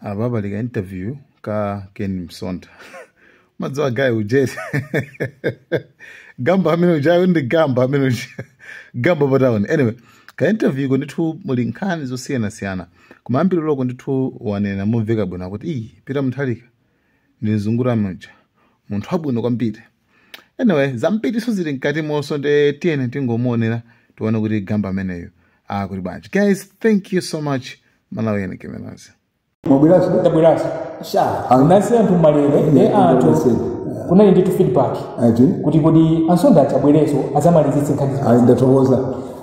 apa pali ka interview ka ken msonda madziwa guy uja eti gamba amene ujayo ndi gamba amene uja gamba pataoni anyway ka interview ko ndithu muli nkhani zosiyanasiyana koma ambiri loko ndithu wanena momveka bwino akuti ayi peter mutharika ndi mzungu muja munthu wabwino kwambiri anyway zambiriso zili mkati monso nde tiyene tingomuonera tione kuti gamba ameneyo akuti bwanji guys thank you so much Malawi yene kemenazi. Mwabweraso. Ndabweraso. Sha. Anasi anthu malere ndi anthu kunali ndithu feedback Ati. kuti kodi a msonda azabwereso azamalizitse nkhani zimene Ayi ndatokoza.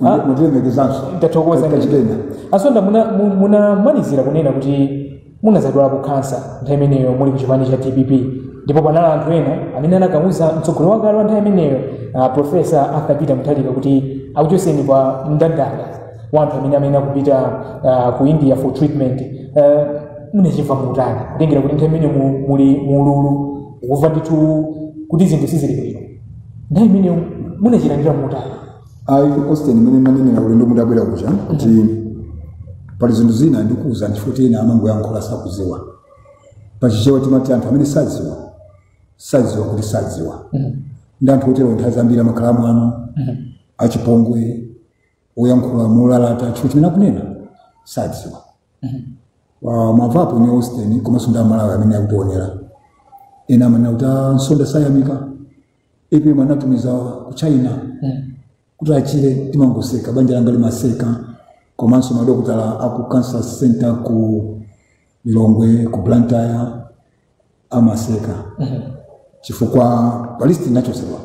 Ah. Mwatilemekezanso. ndathokoza Katika chipenda. a msonda muna- mu- munamalizira kunena kuti munazadwalapo kansa nthawi imeneyo muli kuchipani cha dpp ndipo panali anthu ena amene anakauza mtsogoleri wakale wa nthawi imeneyo ah, profesa arthur peter mutharika kuti akuchoseni pa mndandanda wa anthu amene amene akupita uh, ku india for treatment uh, munachimva mutani kutengera kuti nthawi imene mu- muli mu ululu kumva ndithu kuti zinthu sizili bwino nthawi imeneyo munachilandira mutani ayi austin mmene manenera ulendo mudabwera uja kuti pali zinthu zina ndikuwuzani chifukwa ena amangoyankhula sakuziwa pachichewa timati anthu amene saziwa saziwa kuti saziwa ndi anthu otero nthawi zambiri amakhala amwano achipongwe woyankhula molalata chifukwa chimene akunena sadziwa Wa- mwamvapo ni austin komanso ndi amalawi amene akutionera ena amanena kuti "Ah, msonda sayamika apm anatumiza ku china kuti achire timangoseka banja langa limaseka komanso madokotala aku cancer center ku lilongwe ku blantyre amaseka chifukwa pa list ndinachosedwa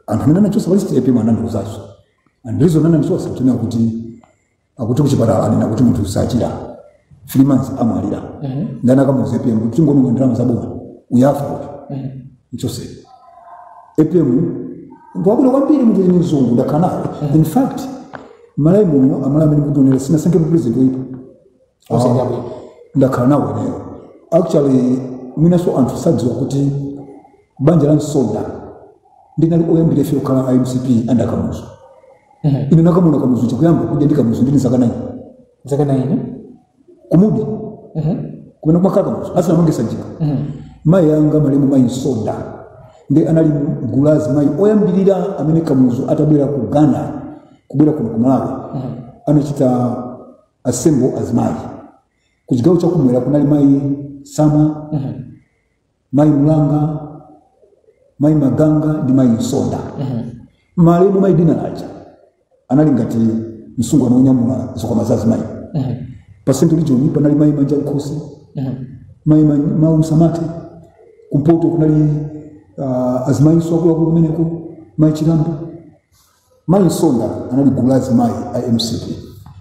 anthu amene anachosa pa list apm anandiuzaso and reason anandichosa kutengera kuti akuti kuchipatala anena kuti munthu uyu sachira three months amwalira nde anakamuuza apm kuti tingononga ndalama zaboma uyu afa uyu mchoseni apm munthu wabwino kwambiri munthu ni mzungu ndakhala nawo in fact malawi muno amalawi amene mukutionera sitinasankhe president oyipa osati abwino ndakhala nawo ineyo actually mwinanso anthu sadziwa kuti banja la msonda ndinali oyambira ife okhala a mcp and a kamuzu ine nakamuona kamuzu chikuyamba kudya ndi kamuzu ndili zaka naini zaka naini ku mudi kumene kumakhala kamuzu asanamange sanjika mayi anga malemu mayi msonda ndi anali mgulu la azimayi oyambirira amene kamuzu atabwera ku ghana kubwera kuno ku malawi anachita assemble azimayi ku chigawo chakumwera kunali mayi tsamwa mayi mulanga mayi maganga ndi mayi msonda malemu mayi dinala aja anali ngati msungwana wonyamula zikwama za azimayi pa central region panali mayi manjamkhosi mayi ma- mayi msamati kumpoto kunali uh, azimayinso akuluakulu kumeneko mayi chilambo mayi msonda anali gulu la azimayi a mcp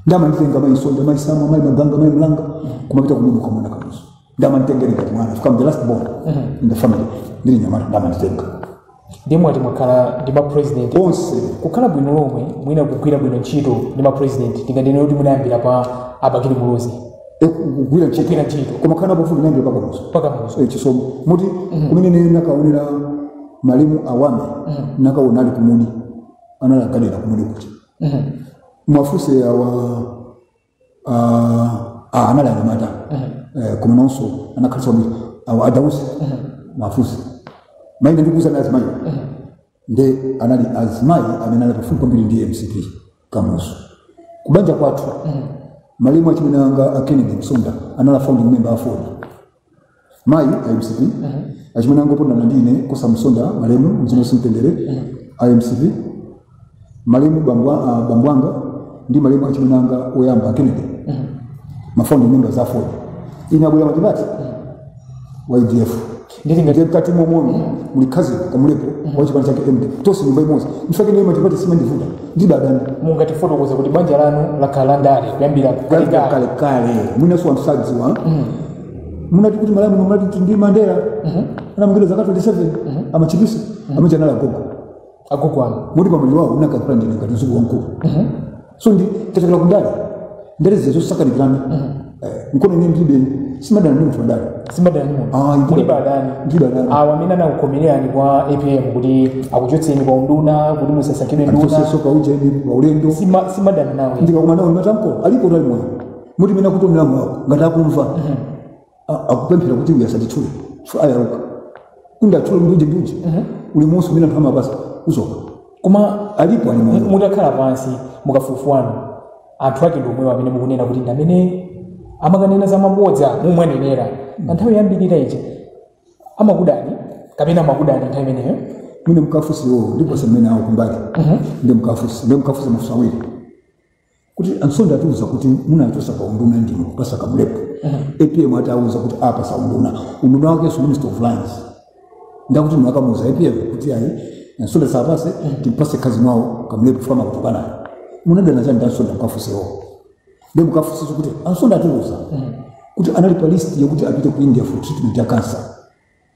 nde amanditenga mayi msonda mayi tsamwa mayi maganga mayi mlanga kumapita kumudi kukamuona kamuzu nde amanditengera ngati mwana chifukwa I'm the last born in the family ndili nyamata nde amanditenga nde mwati mwakhala ndi mapresident onse kukhala bwino lomwe mwina kugwira bwino ntchito ndi mapresident tinganene kuti munayambira pa abakili muluzi Eh, kugwira ntchito kugwira ntchito koma kukhala pafupi nayambira pakamuzu pakamuzu Eh, chisomo moti kumene ine nakaonera malemu awami nakaona ali kumudi anali agadera kumudi kuti Mhm. mwafunse awa ah, ah, anali anyamata Eh, koma nawonso anakhalitsa kuti awa adausi mwafunse maina ndikuuzani azimayi nde anali azimayi amene anali pafupi kwambiri ndi mcp kamuzu kubanja kwathu malemu achimwene anga a kennedy msonda anali founding member aford mayi a mcp achimwene anga opondana ndi ine kosa msonda malemu mzimu uuse mumtendere a mcp malemu bambo a- a- bambo anga ndi malemu achimwene anga oyamba a kennedy mafounding members a aford ine atabwera matipate wa udf ndili ngati ngati mkati momoni muli cousin kamlepo wa chipani chake mk tonse nyumba imodzi ndifake ine matipate simandivuta ndilibe adani mungatifotokoza kuti banja lanu lakhala la ndale kuyambira kale kalekale kale kale mwinanso anthu sadziwa munati kuti malemu munati ndi mandela anamangidwa zaka 27 a machipisa amachanala gogo agogo anu moti pamene wawo unakakula ndine ngati mdzukulu wamkulu so ndi tachokera kundale ndale zija zosakanikirana nkona ine ndilibe simadana ndi munthu wandale simadani muno Ah, ndilibe. mulibe adani Ndilibe adani. awo amene anakukomererani kwa apm kuti akuchotseni kwa unduna kuti musasankhidwe nduna andichotsenso pa ujeni pa ulendo Sima- simadana nawo ndikakumana nawo ndimatamko alipo ali moyo moti mmene akutionera mwako ngati akumva A- akupemphera kuti uyu asanditchule chifukwa ayaluka kundatchule mbuji mbuji uli monse umene anthu amapasa uzoka koma alipo ali mu- moyo mutakhala pansi mukafukufuku wanu anthu ake ndi omwewo amene mukunena kuti ndi amene amakanena za mabodza mumawanenera pa nthawi yoyambirira ija amakudani kapena amakudani nthawi imeneyo mwina mukafunse iwo ndiponso mmene awo kumbali nde mukafunse nde mukafunse mafunso awiri kuti a msonda atiuza kuti munanchosa pa unduna ndinu kupasa kamlepo apm atawauza kuti apasa unduna unduna wakenso minister of lands ndakuti inu mwakamuuza apm kuti ayi a msonda asapase timpase kazi mwawo kamlepo fama kutukanayo munadana chani ndi a msonda mukafuse iwo nde mukafusiso kuti a msonda atiuza kuti anali pa list yokuti apite ku india for treatment ya cancer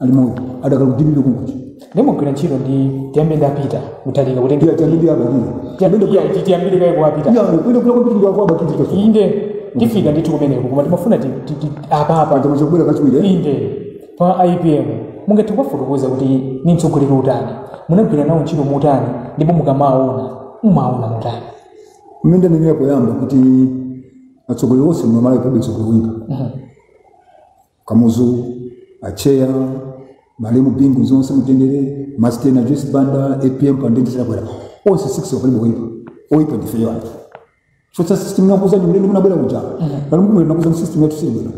ali moyo adakali kudimire kunkuti ndimagwira ntchito ndi tiyambe ndapita motalika kutenga iya tiyambire a bakili tiyambe kuya kuti tiyambire kaye kuwapita iya kwenda kula kwambiri ndi akwaba kiti kaso inde tifika ndithu kumeneko koma timafuna ti- ti- ti- apapa paja mwachita kubwera kachiwiri eh? inde pa apm mungathe kuwafotokoza kuti ndi mtsogoleri otani munagwira nawo ntchito motani ndipo mukamawaona mumawaona motani mmene ndanenera poyamba kuti atsogoleri onse mmalawi palibe mtsogoleri woipa Kamuzu, Atcheya, Malemu Bingu ause mumtendere, Masteni a Joyce Banda, APM President Chakwera. Onse six palibe oipa. Oipa ndifeyo anthu. Chotsa system ndinakuuzani ulendo munabwera kuja. Pano mkumwe ndinakuuzani system yathu siili bwino.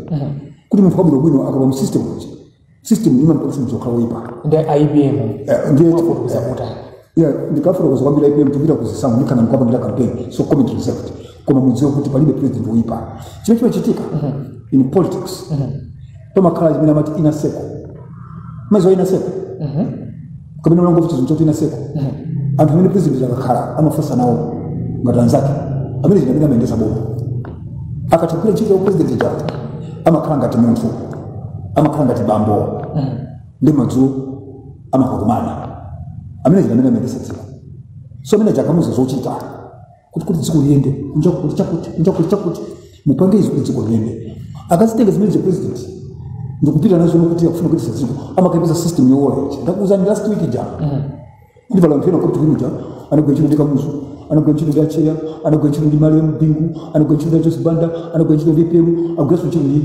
Kuti munthu wabwino bwino akalowa mu system kuja. System imamupangitsa munthu kukhala oipa. ndi APM Eh, ndiye- Wafotokoza kuti Yeah, ndikafotokoza kwambiri APM tikupita ku zisankho ndikhala ndikuwapangira campaign so comment reserved koma mudziwe kuti palibe president woyipa chimene chimachitika in politics pamakhala chimene amati inner circle mumaziwa inner circle kapena munamvapo kuti chinthu choti inner circle anthu amene president akakhala amafunsa nawo ngati anzake amene chinamene amayendesa boma akatha kugwira ntchito ya president ija amakhala ngati munthu amakhala ngati bambo ndi madzulo amakakumana amene chinamene amayendesa dziko so amene aja akamuuza zochita kuti kuti dziko liyende kunja kuti chakuti kunja kuti chakuti mupange izi kuti dziko liyende akazitenga zimene za president ndikupita nazo nokuti akufuna kuitisa dziko amakaipiza system yowola ichi ndakuuzani last week ija kuti pali anthu ena kuti kuja anagwira ntchito ndi kamuzu anagwira ntchito ndi acheya anagwira ntchito ndi malemu bingu anagwira ntchito ndi joyce banda anagwira ntchito ndi apm agwiranso ntchito ndi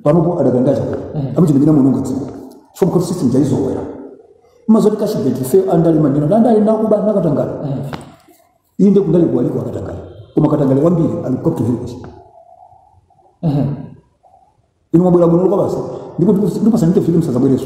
panopo adakali ndi a chakwera amenewo ndi amene akuononga dziko chifukwa choti system ija aizolowera ma zoti cashgate ifeyo andale amanena andale ndi akuba ndi akatangale inde ku ndale kuja aliko akatangale koma akatangale ambiri ali ku capital hill uku inu mwabwera bwino lokwa basi ndipo ndipo sanite filimu sazabwereso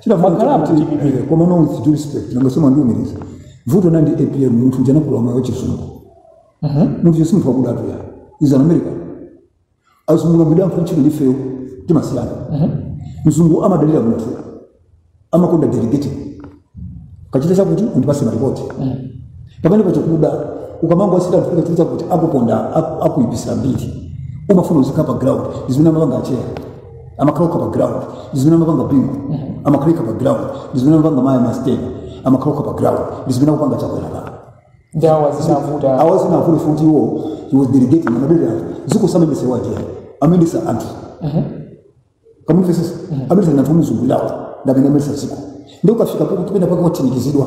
Chinavuta Mwakhala chakuti kuti pamene- eh, koma no with due respect nanga si mwandiumiriza. Vuto nandi APM munthu uja anakula mwa chizungu. Munthu uja si munthu wakudatu uja. He's an American. Azungu ngabida mfana chini ndi ifeyo timasiyana. Mzungu amadalira munthu. Amakonda delegating. Kachite chakuti undipase maripoti. Pamene pachikuda ukamango asita kufika chikuta kuti akuponda aku- akuipisira mbiri. Umafuna uzikhala pa ground. Ndi zimene amapanga Atcheya. amakhala okha pa ground ndizimene amapanga bingu amakhala okha pa ground ndizimene amapanga mayi masteni amakhala okha pa ground ndizimene akupanga chakwera pano ndi awa zinavuta awa zinavuta kuti iwo he was delegating amadalira anthu dziko samendesa uja amendesa anthu ukamumvesesa amendesa anthu omuzungulirawo ndamene amendesa dziko ndi ukafika kuti pena pake wathinikizidwa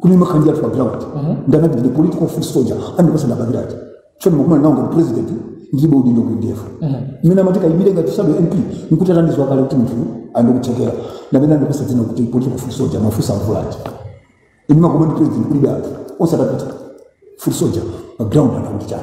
kuni makhanjira pa ground ndanati ndi political foot soldier andipasa ndapangirira ati choni mukumana nawo ngati president ndilibe udindo ku ndf mmene amati ukaimire ngati shadow mp nkuti atandidziwa kale kuti munthu ali ndi kuthekera ndamene andipasa dzina kuti political foot soldier mafusa mvula ati ine makoma ndi president kulibe anthu osatapita foot soldier pa ground anakuti chani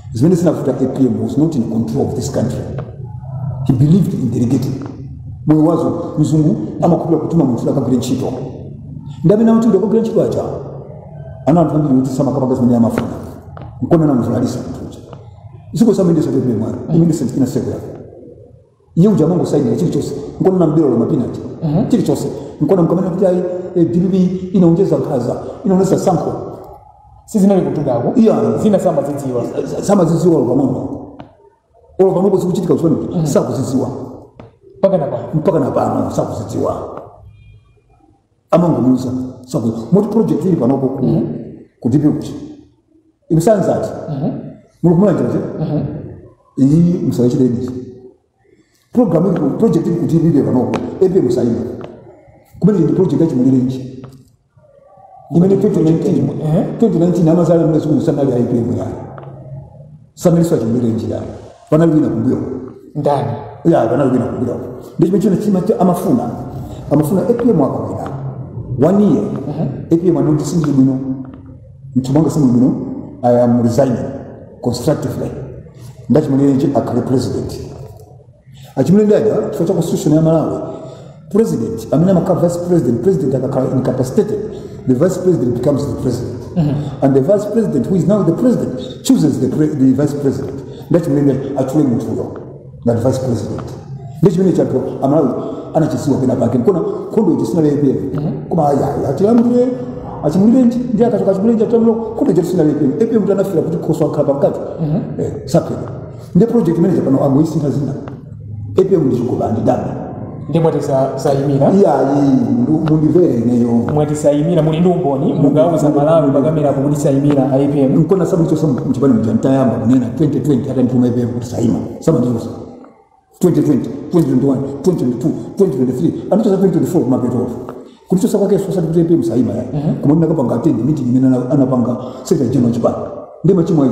zimene zinavuta apm was not in control of this country he believed in delegating moyo wazo mzungu amakhulupira kutuma munthu akagwire ntchito ndi amene amatuma akagwire ntchito aja ana anthu ambiri kuti samakapanga zimene amafuna nkona munthu alisa munthu uja dziko samendesa tepelemwana imene sentikina sekula iye uja amangosayinira chilichonse nkonena mbirolo mapinati chilichonse nkona mkamanena kuti ayi eh, dpp inaonjeza nkhaza inaonesa tsankho sizinali kutudako Iya. zina samazidziwa samazidziwa olo pang'ono olo pang'ono zikuchitika zimene kuti sakuzidziwa mpaka na pano mpaka na pano sakuzidziwa amangomuuza zakuti moti project ili panopo ku ku dpp kuti inu sanzati muli kumulanjanje iyi musayachire imeji program ili ku project ili ku dpp panopo apm sayima kumene ndi project ya chimulirenji imene 2019 2019 amazala mene siku musanali a apm iyayi sanalinso a chimulirenji iyayi panali wina kumbuyo ndani eya panali wina kumbuyo ndicho chimene china chimati amafuna amafuna apm akawina one year apm anene kuti sindili bwino mmutu mwanga sindili bwino i am resigning constructively ndiye chimulirenji akhale president achimulirenji dada chifukwa cha constitution ya malawi president amene amakhala vice president president akakhala incapacitated the vice president becomes the president and the vice president who is now the president chooses the, pre the vice president ndiye chimulirenji atchule munthuyo ngati vice president ndechimene anthu amalawi anachidziwa pena pake nkona nkhondo iti zinalephera koma ayayi atilamulire achimulirenji ndiye akachoka achimulirenji atilamulire nkhondo iti zinalephera apm kuti anafika kuti khoswe akakhala pamkate sapheka ndi project manager pano angoyisintha dzina apm ndi chikopa ndi dana ndiye mwati sa- sayimira iyayi ndu- mundimvere ineyo mwati sayimira muli ndi umboni mungauza malawi pakamera kuti sayimira a apm nkona samandichotsa mchipani muja nditayamba kunena 2020 atandituma apm kuti saima samandiuza 2020 2021 2022 2023 anandichotsa 2024 kumapeto kundichotsa kwake sosa kuti apm saima iyayi koma ndinakapanga attend meeting imene ana- anapanga secretary general chipani ndi machimo ayi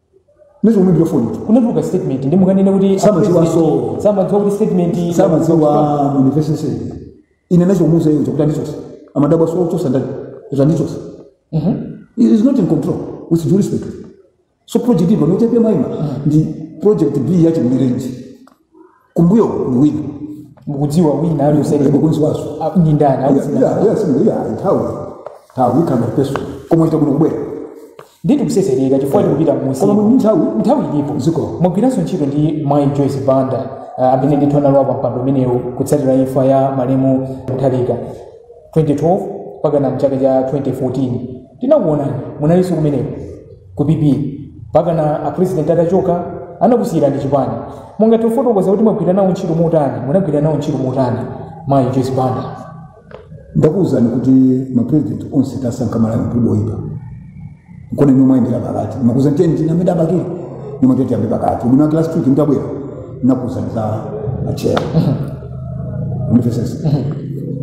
Nizo mwe byo foni. Kunatuluka statement ndi mukanene kuti Samadziwaso. samadziwa kuti statement Samaziwa university say. Ine nacho muza iye kuti ndicho. Amadabwaso kuchosa ndani. Kuti ndicho. Mhm. He is not in control with due respect. So project ipo note pia maima ndi project B ya Chimulirenji. kumbuyo ni wina mukudziwa wina aliyense mukudziwaso a- ndi ndani Yeah, akudziwa yeah, yeah, similar, yeah, nthawi nthawi ikamba peso koma ita kuno kubwera ndi tikusesereka chifukwa tikupita mmusi koma mu nthawi nthawi ilipo Zikomo. mwagwiranso ntchito ndi mayi joyce banda ah, amene ndithu analowa pa mpando umenewu kutsatira imfa ya malemu mutharika 2012 mpaka na mchaka cha 2014 tinakuonani munalinso kumeneko ku pp mpaka na apresident atachoka anakusiyirani chipani mungathe kufotokoza kuti mwagwira nawo ntchito motani munagwira nawo ntchito motani mayi joyce banda ndakuwuzani kuti mapresident onse tasankha malamulo oyipa kodi inu mwayendera pakati nnakuuza teni tina amene a bakili nimwe tete ambe pakati ubwino wake last week ntabwera nnakuuzani za atcheya mvesesa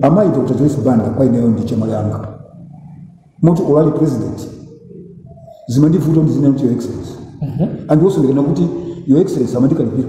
amayi dr joyce banda kwa ineyo ndi chemwali wanga moti olo ali president zimandivuta ndizinena kuti your excellency and also ndikanena kuti your excellency amandikalipira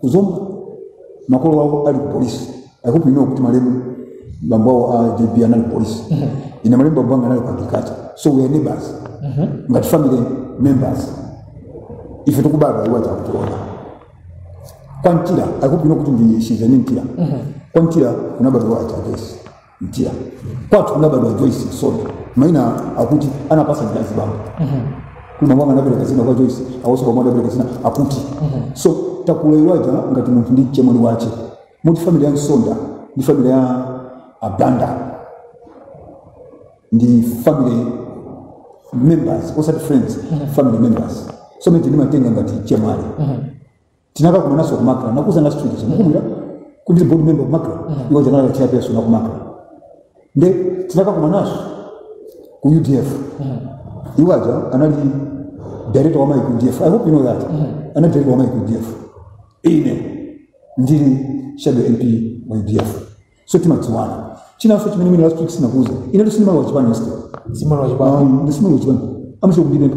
ku zomba makolo awo ali ku polisi i hope you know kuti malemu bambo awo a jb anali apolisi ine malemu bambo anga anali ku agriculture so we are neighbors ngati family members ife tikubadwa iwo aja akutiona kwa mtila i hope you know kuti ndi she's nee mtila kwa mtila kunabadwa a joyce mtila kwathu kunabadwa joyce msonda maina akuti anapasa ndi azibambo kuna mwana anabereka zina kwa joyce awoso kwa mwana anabereka zina akuti so takula iwo aja ngati munthu ndi chemwali wache moti family ya msonda ndi family ya abanda ndi family members osati friends family members so moti ndimawatenga ngati chemwali tinakakumananso ku macra nakuuzani last week mukukumbukira kuti board member ku macra iwo aja anali chairperson wa ku macra nde tinakakumananso ku udf iwo aja anali director wa amayi ku udf i hope you know that anali director wa amayi ku udf ine ndili shadow mp wa udf so timadziwana chinanso chimene mwina last week sindinakuuze inetu sindimalowa chipani iste sindimalowa chipani ine sindimalowa chipani amachita kundipempha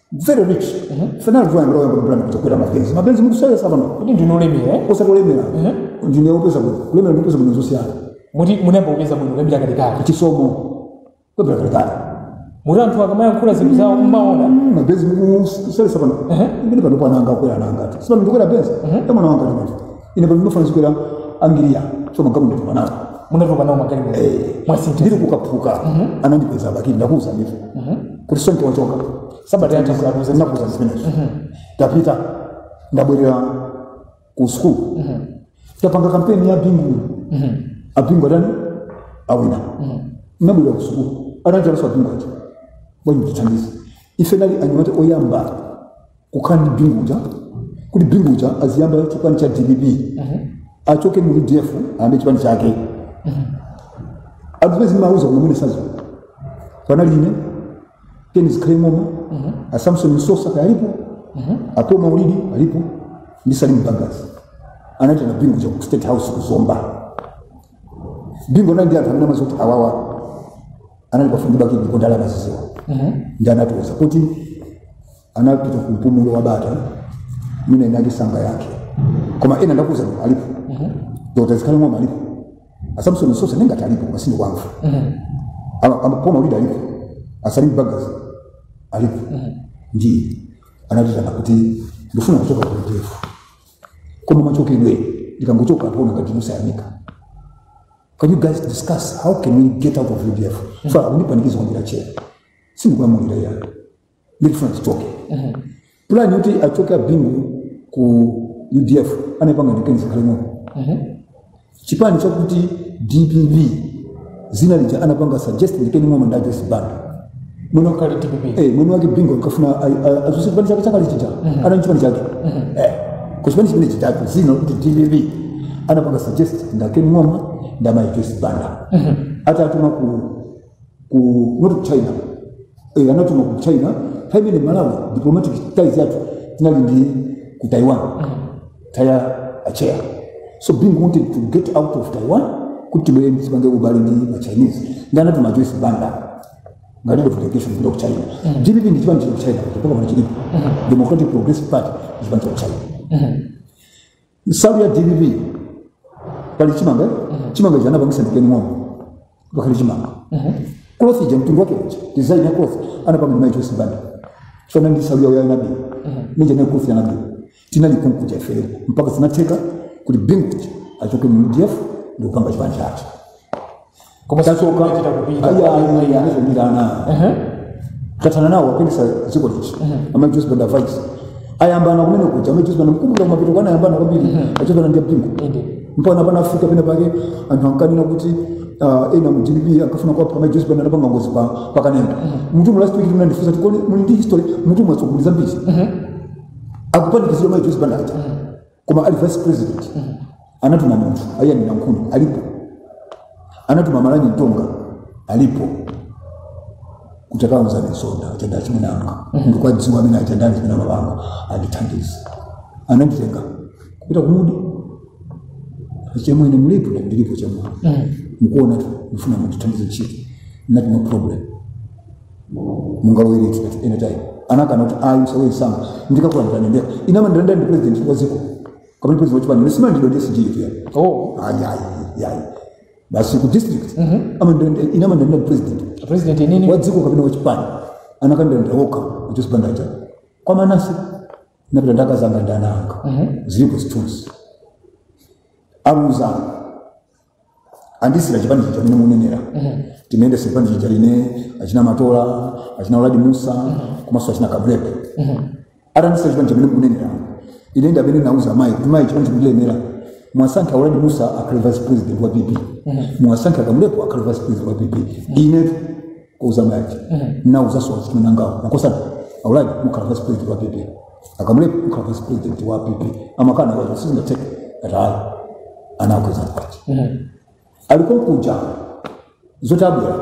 Very rich. Sanali vula ngalo yamba kupulana kutokwera ma Benz. Ma Benz mukusewesa pano. kuti ndinu olemera eh? Osati olemera. Ndine opeza bwino. Kulemera ndi kupeza bwino zosiyana. moti munayamba kupeza bwino kuyambira kalekale Chisomo. Kuyambira kalekale. moti anthu akamayankhula zinthu zawo mmaona ma Benz mukusewesa pano. Ehe. Ndine pano pananga kukwera nanga. Si pano ndikukwera Benz. Tamwana wanga ndimati. ine pamene mafuna zikwera angiriya so magalimoto ndatopa nawo munatopa nawo magalimoto Eh. mwasintha ndiri ku kaphuka anandipeza bakili ndakuuza ndithu kuti sonke wachoka sabata yatha ndinakuuza ndakuuza zimenezo tapita ndabwerera ku sukulu tapanga kampeni ya bingu abingu atani awina ndabwerera ku sukulu ananjalaso abingu ati bwerani mutithandize ife tinali anyamata oyamba kukhala ndi bingu uja kuti bingu uja aziyamba chipani cha dpp achoke mu udf ayambe chipani chake advesi mauza kuti mwene sazo panali ine ken zikhale ng'oma asamson msosa kaya alipo a paul maulidi alipo ndi salim bagus anatiitana bingu uja ku state house ku zomba bingu anali ndi anthu amene amazoti awawa anali pafupi ndi bakili ndipo ndale amazidziwa ndiye anatiuza kuti anapita ku mpumulo wa bata mwina inali sanga yake koma ena ndakuuza kuti alipo dr zikhale ng'oma alipo asamson msosa ndingati alipo masini kwamva Ama- a paul maulidi alipo asalim bagus alipo ndiye anatiitana kuti ndifuna kuchoka ku udf koma machokidwe ndikangochoka anthu aona ngati wosayamika can you guys discuss how can we get out of udf so akundipanikiza kwambiri atcheya sindikulamulira ayi ndikufuna tichoke pulani yoti achoke abingu ku udf anayipanga ndi ken zikhale ng'oma chipani chakuti dpp dzina lija anapanga suggest ndi ken ng'oma ndi a joyce banda mwene kali dpp Eh, mwini wake bingu ankafuna adzutse chipani chake chakale chija anali nchipani chake Eh, ku chipani chimene chitatu dzina kuti dpp anapanga suggest ndi a ken ng'oma ndamayi joyce banda atatuma ku ku not ku china eh, anatuma ku china nthawi imene malawi diplomatic ties yathu tinali ndi ku taiwan time ya atcheya so bingu wanted to get out of taiwan kuti tibwere tipange ubale ndi ma chinese ndiye anatuma joyce banda ngati of delegation kupita ku china dpp ndi chipani cha ku china kutoka pano chilipo democratic progressive party ndi chipani cha ku china nsalu ya dpp pali chimanga chimanga ichi anapangitsa ndi ken ng'oma pakhale chimanga cloth ija mtundu wake uja design ya cloth anapanga ndi mayi joyce banda chifanane ndi nsalu yawo ya nabw ija nayo cloth ya nabw tinali konkuja ifeyo mpaka zinatheka kuti bingu uja achoke mu udf ndikupanga chipani chake koma Tatsoka. sichita kupita Ayi, ayi, ayi, anazobirana. Ehe. tathana nawo akuyendetsa dziko lino ndi amayi joyce banda vice ayambana kumene kuja amayi joyce banda mkumbuka kumapeto kwake anayambana kwambiri a joyce banda ndi a bingu Inde. mpaka anafika pena pake anthu ankanena kuti ah, ena mu dpp ankafuna kuwapha amayi joyce banda anapanga ngozi pa pa kanengo mutumwa last week mnandifunsa kuti kodi muli ndi history m'mutumwa tsoguli zambiri akupanikizidwa amayi joyce banda aja koma ali vice president anatuma munthu a ian nankhuni alipo anatuma malani mtonga alipo kuti takawuzani msonda atenda achimunanga ndikuwadziwa amene atenda achimuna mabanga andithandize ananditenga kupita ku mudi chemwene mulipo na ndilipo chemwene mukuonatu ndifuna mundithandize ntchito nati no problem mungabwerenso at any time anakana kuti ayi musabwere msanga ndikakulandira ndendera ine amandilandira ndi president wa dziko kapena president wa chipani sindimalandilidwa ndi sg pia oh ayi ayi ayi basi ku district ama ndende ine amandilandira ndi president president nini wa dziko kapena wa chipani anakandilandira okha kuti sibandaja kwa manase napita ndakazanga ndananga zilipo zithunzi aluza andisiyira chipani chija amene munenera timayendesa chipani chija ine achina matola achina uladi mussa komanso achina kamlepo atandisiyira chipani chimene munenera ine ndi amene nauza mayi kuti mayi chipani chikulemera mwasankha uladi mussa akhale vice president wa pp mwasankha kamlepo akhale vice president wa pp ine kuuza mayi aja nauzanso achina nangawo makosana a uladi mukhala vice president wa pp a kamlepo mukhala vice president wa pp amakana kuti sizingatheke ati ayi anakweza mkwacha alikonkuja zoti abwera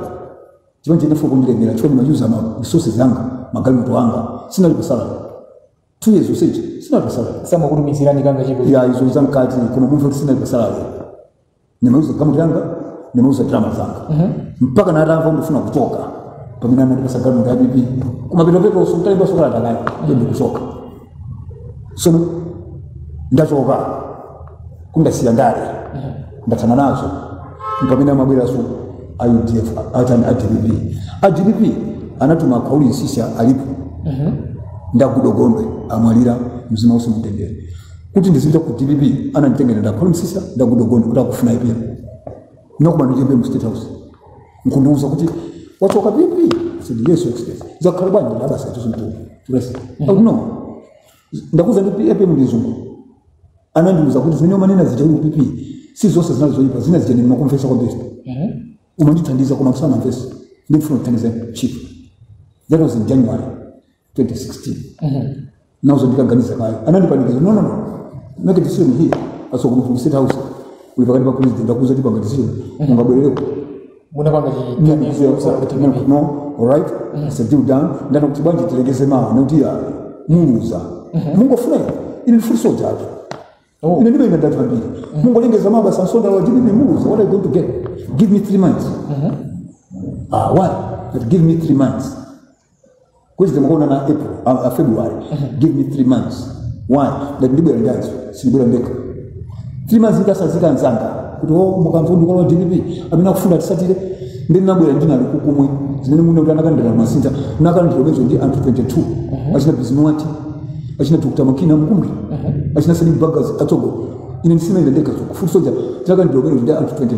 chipani chinafuna kundilemera chifukwa ndimayuza ma resources anga magalimoto anga sinali pa salary two years usage sinali pa salary samakutumizirani kangachepe ayi izo zamkati koma munthu kuti sinali pa salary ndimayuza galimoto yanga ndimayuza ndalama zanga mpaka natamva ndifuna kuchoka pamene anandipasa galimoto ya pp kumapetopeto sukutalipa sukalata kale iyo ndikuchoka sono ndachoka kuti ndasiya ndale ndathana nazo mpamene amabweraso a udf atani a dpp a dpp anatuma a khwauli msiska alipo nda goodall gondwe anamwalira mzimu uuse mumtendere kuti ndizipita ku dpp ananditengera nda khwauli msiska nda goodall gondwe kuti akufuna apm nakumana ndi apm mu state house nkundiuza kuti wachoka pp sidi yesu express zakhala bwanji ndabasa ituzo mtu rest akuno ndakuza apm ndi mzungu anandiuza kuti zimene umanena zija uli pp si zonse zinali zoyipa zina zija ndimakumvesa kwambiri umandithandiza koma msana mvesa ndikufuna kuthandiza chief that was in january 2016 nauza ndikaganiza kaye anandipanikiza no no no make a decision here aso kuti mu state house uli pakati pa president akuuza kuti panga decision mungabwereko musanapange chiganizo no alright it's a deal done ndana kuti bwanji tilengeze mawa nokuti ya muluza mungofuna ine ine ndifuna soja atu Oh. ine ndibe ine ndi anthu ambiri mungolengeza mawa basi a msonda wa dpp muluza what are you going to get give me three months ah why but give me three months kuti timakuonana April a, a February give me three months why ngati ndibwera ndi anzanga sindibwera ndekha three months ndikatsanzike nzanga kuti o mukamvundi kwa dpp amene akufuna tisatire ndi ndinabwera ndinali kukumwe zimene muno kuti anakalandira ma senior tinakalandira limodzi ndi anthu 22 achina bizinuwati achina dr makina mkumbi achina Salim Bagus a Tsogo ine sindinayenda ndekha kufuti soja tinakalandira limodzi ndi anthu 22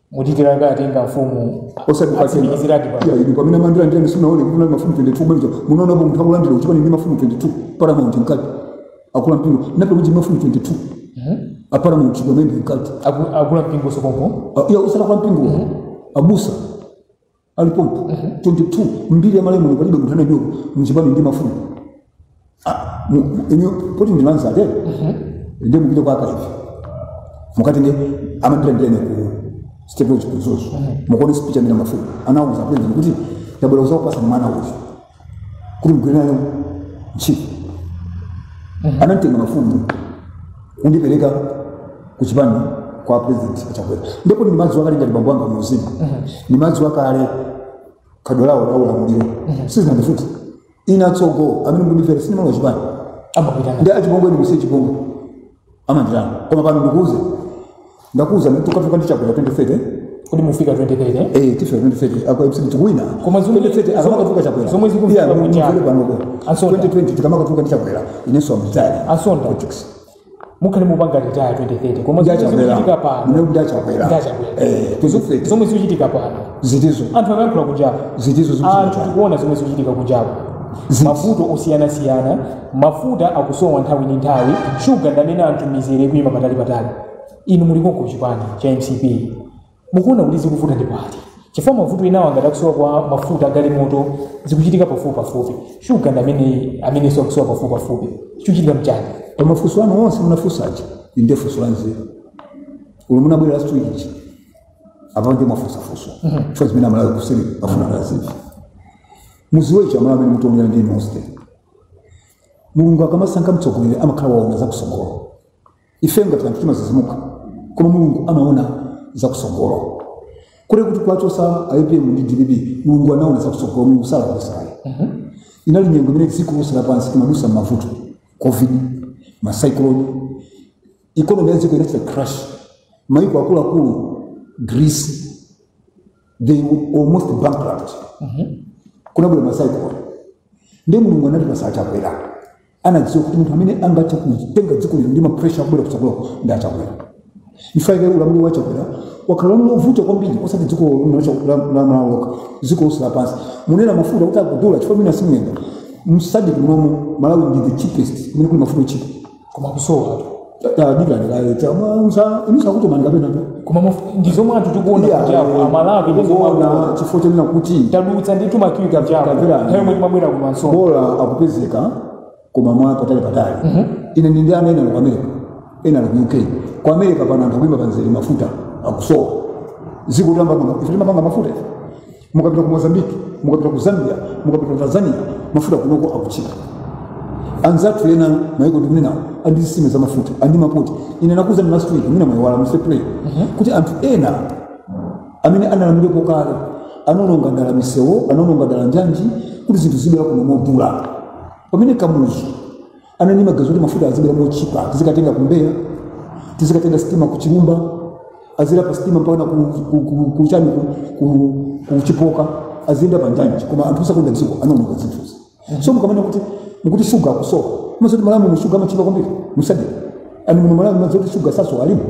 mudikira ngati nga mafumu osati pakena atsimikiziradi pa ya inu pamene amandilandira ndiyani sinaone kuti kunali mafumu 22 mwina munaonapo munthu akulandira kuchipani ndi mafumu 22 paramount mkati akulu a mpingo nape kuti mafumu 22 aparamount pamene mkati Aku- akulu a mpingo sokopo Ah, ya usala kwa mpingo abusa alipo 22 mbiri ya Malawi palibe munthu analandiridwa mchipani ndi mafumu Ah, mu- mu- inu poti ndi anzanu nde mupite kwa archive mukati nde amandilandira ine ku state lodge ku Mzuzu mukaone speech amene mafumu anauza president kuti tabwera kuzakupasani mwana uyu kuti mugwire naye ntchito anamtenga mafumu kundipereka ku chipani kwa president achakwera ndipo nimazi- nimawakonda ngati bambo anga muuzimu nimazi- nimawakonda khadwa lawo la ulamuliro sizinandifuti inu atsogo amene mkundifera sinima wa chipani amapitana ndi achipongwe ndikuuze chipongwe amandira koma pano ndikuuze ndakuuza nditukuka ndi Chakwera 2030 kuti mpaka 2030 eh tife 2030 a Congress idi tikuwina Koma zomwe- 2030 akamakafuka chakwera zomwe zikumveka Yeah, kuja. mumvere pano ko Ansonda. 2020 tikamakafuka ndi chakwera inenso amtali Ansonda. politics mukhale mupanga retire 2030 koma zomwe zikuchitika pano Ndi ndachakwera Ndachakwera. eh 2030 zomwe zikuchitika pano ziti zomwe anthu akuyankhula kunjapo zitizo anthu zikuchitika tikuona zomwe zikuchitika kunjapo Ziti. mavuto osiyanasiyana mafuta akusowa nthawi ndi nthawi shuga ndi ameneyo anthu mizere ikuyima patali patali inu muli konko chipani cha mcp mukuona kuti zikuvuta ndi pati chifukwa mavuto enawo ngati akusowa kwa mafuta agalimoto zikuchitika pafupi pafupi shuga ndi ameneyo amenenso akusowa pafupi pafupi chikuchitika nchani pamafunso anu onse munafunsa ichi nde funso la nzeru olo munabwera last week ichi apa nde mwafunsa funso chifukwa zimene amalawi kuseri afuna azimve muziwe ichi amalawi amene mukutionera ndi inu nonse mulungu akamasankha mtsogoleri amakhala waona zakusogolo ife ngati anthu timazizimuka koma mulungu amaona zakusogolo kunena kuti kuwachosa APM ndi dpp mulungu anaona zakusogolo mulungu salakwisa ayi inali nyengo imene dziko lonse lapansi limadusa m'mavuto covid ma cyclone economy ya dziko inachita crash maiko akuluakulu greece they were almost bankrupt kunabwera masaikoloni ndi mulungu anati patsa chakwera anadziwa kuti munthu amene angathe kutenga dziko lino ndi mapresha akubwera kutsogolo ndi achakwera ifaike ulamuliro wa chakwera wakhala ulamuliro wovuta kwambiri osati dziko la malawi lokha dziko lonse lapansi munena mafuta kuti akudula chifukwa mwina simuyenda msadiki munomo malawi ndi the cheapest kumene kuli mafuta otchipa koma kusowa tadikanilayo chamwanza inusa kuti manikapena koma muf- ndi zomwe anthu tikuona kuti apo amalawi ndi zomwe akuona akuona chifukwa chonena kuti tadutsa ndithu makiwi kapo Tamverani. nthawi yomwe timabwera kumanso bola akupezeka koma mwa patali patali ine ndi ndi ana ena ali ku america ena ali ku uk ku america pano anthu akuima pamzere mafuta akusowa dziko tamba kuno ife timapanga mafuta ife mukapita ku mozambique mukapita ku zambia mukapita ku tanzania mafuta kunoko akutchipa anzathu ena maiko ndikunenawo ali ndi zitsime za mafuta ali ndi mapoti ine ndakuuzani last week mwina mwayiwala mr play kuti anthu ena amene analamulirako kale anaononga dala misewu anaononga dala njanji kuti zinthu zizibwera kuno modula pamene kamuzu anali ndi maganizo kuti mafuta azibwera motchipa tizikatenga ku mbeya tizikatenga sitima ku chilumba azidzera pa sitima mpaka ku, ku, ku, ku, chani ku, ku, ku chipoka aziyenda pa njanji koma anthu osakonda dziko anaononga zinthuzi so mukamanena kuti mukuti shuga akusowa mudziwa zoti malawi muno shuga amatchipa kwambiri musadiki mwani muno malawi mudziwa zoti shuga sasowa alimo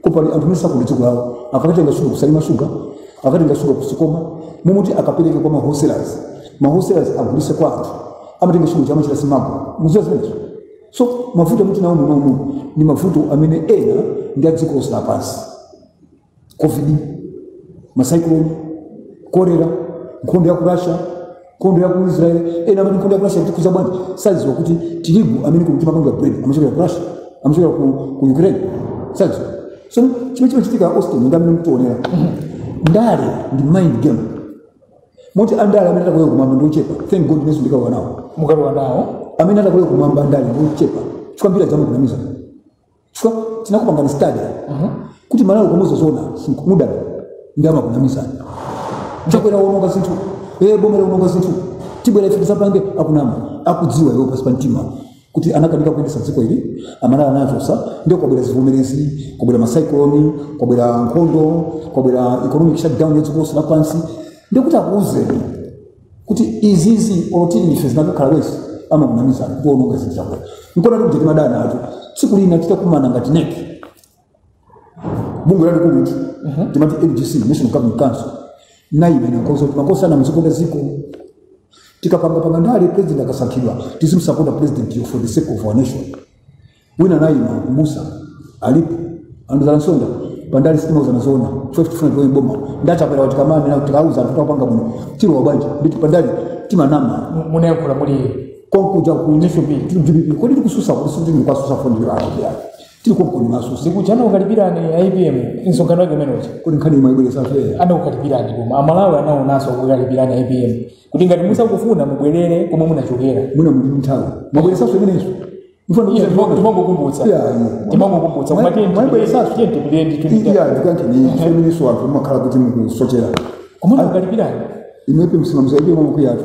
koma pali anthu mesa kuli dziko lawo akatenga shuga kusalima shuga akatenga shuga kusikoma mumuti akapereke kwa mawholesalers mawholesalers agulitse kwa anthu amatenga shuga ndi kumachita smuggle mudziwa zimenezo so mavuto amene tinawo munomu ndi mavuto amene ena ndi adziko lonse lapansi covid macyclone kolera nkhondo ya ku russia nkhondo ya ku israel ena amati nkhondo ya ku russia itikhudza bwanji sadziwa kuti tirigu amene timapanga bread amachokera ku russia amachokera ku, ku ukraine sadziwa so chimene chimachitika austin ndi amene mkuonera ndale ndi mind game moti andale amene adzakalowe kumwamba ndi ochepa thank god inenso ndikalowa nawo mukalowa nawo amene adzakalowe kumwamba andale ndi ochepa chifukwa ambiri amakunamiza chifukwa tinakupangani stadi kuti mmalawi kumuuza zoona amakuda ndi amakunamiza chakwera waononga zinthu ee boma laononga zinthu tibwera ife tidzapange akunama akudziwa iwo pansi pa mtima kuti anakanika kuyendetsa dziko ili amalawi anachotsa ndio kwabwera zivomezi kwabwera masaikoloni kwabwera nkhondo kwabwera economic shutdown yadziko lonse lapansi ndio kuti akuuzeni kuti izizi olo tili ndife zinakakhala worse amakunamizana waononga zinthu chakwera nkuona kuti timadana acho tsiku lina titakumana ngati neki bungwe lalikulu uti timati NGC national governing council naye imene ndi yoti makosana tizikonda ziko tikapanga panga ndale president akasankhidwa tizimsapota president yo for the sake of our nation wina naye Mamusa alipo andiuza a Msonda pandale sitimauzana zoona chifukwa tifuna tione boma ndachapera kuti kamani na tikauza anthu tapanga bwino pandale timanama Mu- munayankhula muli konkuja ku National Bill. dpp kodi tikutsutsa kuti sikuti ndikatsutsa fondira awo tiri konkuno maso sikuti anakukalipirani APM msonkhano wake umene uja kodi nkhani mwayibweretsa fair anakukalipirani koma amalawi anaonanso akukukalipirani APM kuti ngati musakufuna mubwerere komwe munachokera mwina muli nthawi mwabweretsanso imeneyonso Iye, timango- timangokumbutsa timangokumbutsa koma tiye tipitire ndithu imeneyonso anthu mumakhala kuti mukusochera komwe anakukalipirani APM nsimamizi APM mwamukwiyatu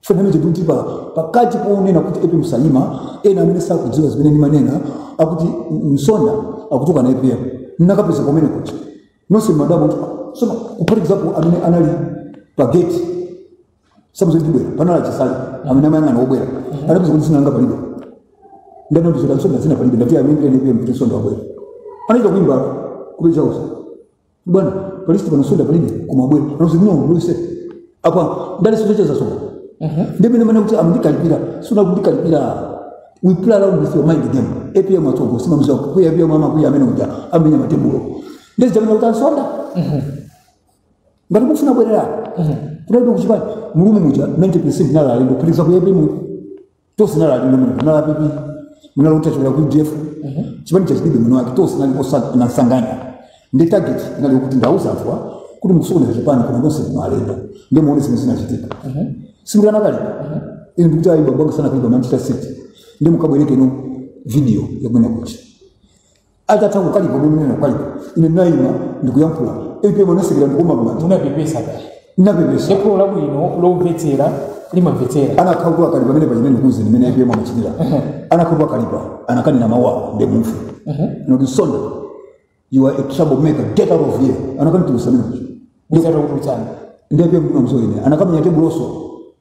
tsopano chikuti pa pakati ponena kuti APM Salima ena amene sakudziwa zimene ndimanena akuti msonda akutukwana APM ndinakapeza pamene kuti nonse madabo soma kuphatikizapo amene anali pa gate samadziwa ndibwera panali a Chisale amene amayang'ana obwera anapeza kuti sinanga palibe ndani amudziwa msonda zina palibe ndi amene APM kuti Msonda wabwera anaita kuimba kupeza usa bwana alinso pano Msonda palibe kumabwera panozi kuno uluse apa ndale zocheza Msonda ndimene mwanena kuti amandikalipira sikunali kundikalipira we play around with your mind game apm atsogo simumdziwa kukwiya apm amakwiya amene uja amamenya matebulo ndiye zija amanena kuti a Msonda ngati mufuna bwererani kudalibe kuchipani mu room muja 90 percent anali alendo kuphatikiza iyeyo apm tonse tinali alendo muno munali a pp munali atachokera ku udf chipani cha dpp mwini wake tonse tinali osa- osanganiza ndi target inali yokuti ndauza anthu awa kuti mukusokoneza chipani koma tonse muno alendo ndi muone zimene zinachitika sindinakalipe ine ndikuti ayi bambo anga sanakalipe manchester city ndi mukabwereke inu video ya kumene kuja atatha kukalipa ndinena kwa ine ine ndinayima ndikuyankhula apm anasekera ndikuomba kumanja munapepesa kale ndinapepesa ndipo labwino lomvetsera limamvetsera anakakhala kuti akalipa pamene pachimene ndikuuze ndimene apm amachitira anakakhala kuti akalipa anakanena mawu ake ndi munthu oti Msonda you are a trouble maker get out of here anakanditulutsa mene muja ndisathe kutsutsana ndi apm ndimamdziwa ine anakamenya tebulonso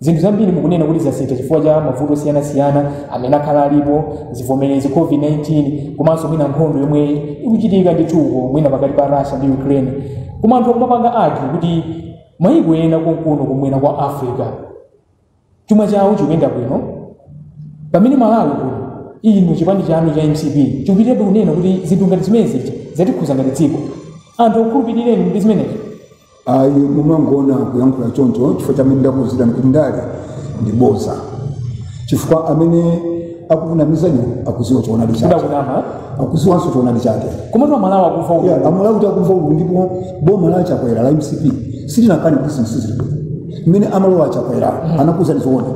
Zinthu zambiri mukunena kuti zasintha chifukwa cha mavuto osiyanasiyana amene akhala alipo, zivomerezi, COVID-19 komanso mwina nkhondo yomwe ikuchitika ndithu uko mwina pakati pa Russia ndi Ukraine. Koma anthu akumapanga argue kuti mayiko ena konkuno kumwera kwa Africa chuma chawo chikuyenda bwino pamene Malawi kuno inu chipani chanu cha MCP chikupitirabe kunena kuti zinthu ngati zimenezi zatikhuza ngati dziko. Anthu akukhulupirireni ndi zimenezi. ayi mumangoona kuyankhula choncho chifukwa chimene ndakuuzirani kuti ndale ndi bodza chifukwa amene akukunamizaniyo akuziwa choonadi chake kudakunama akuziwanso choonadi chake komatu amalawi akufa uku Yeah, amalawi kuti akufa uku ndipo boma la chakwera la mcp silinakane kuti zinthu sizili bwino mmene amalowa achakwera anakuuzani zoona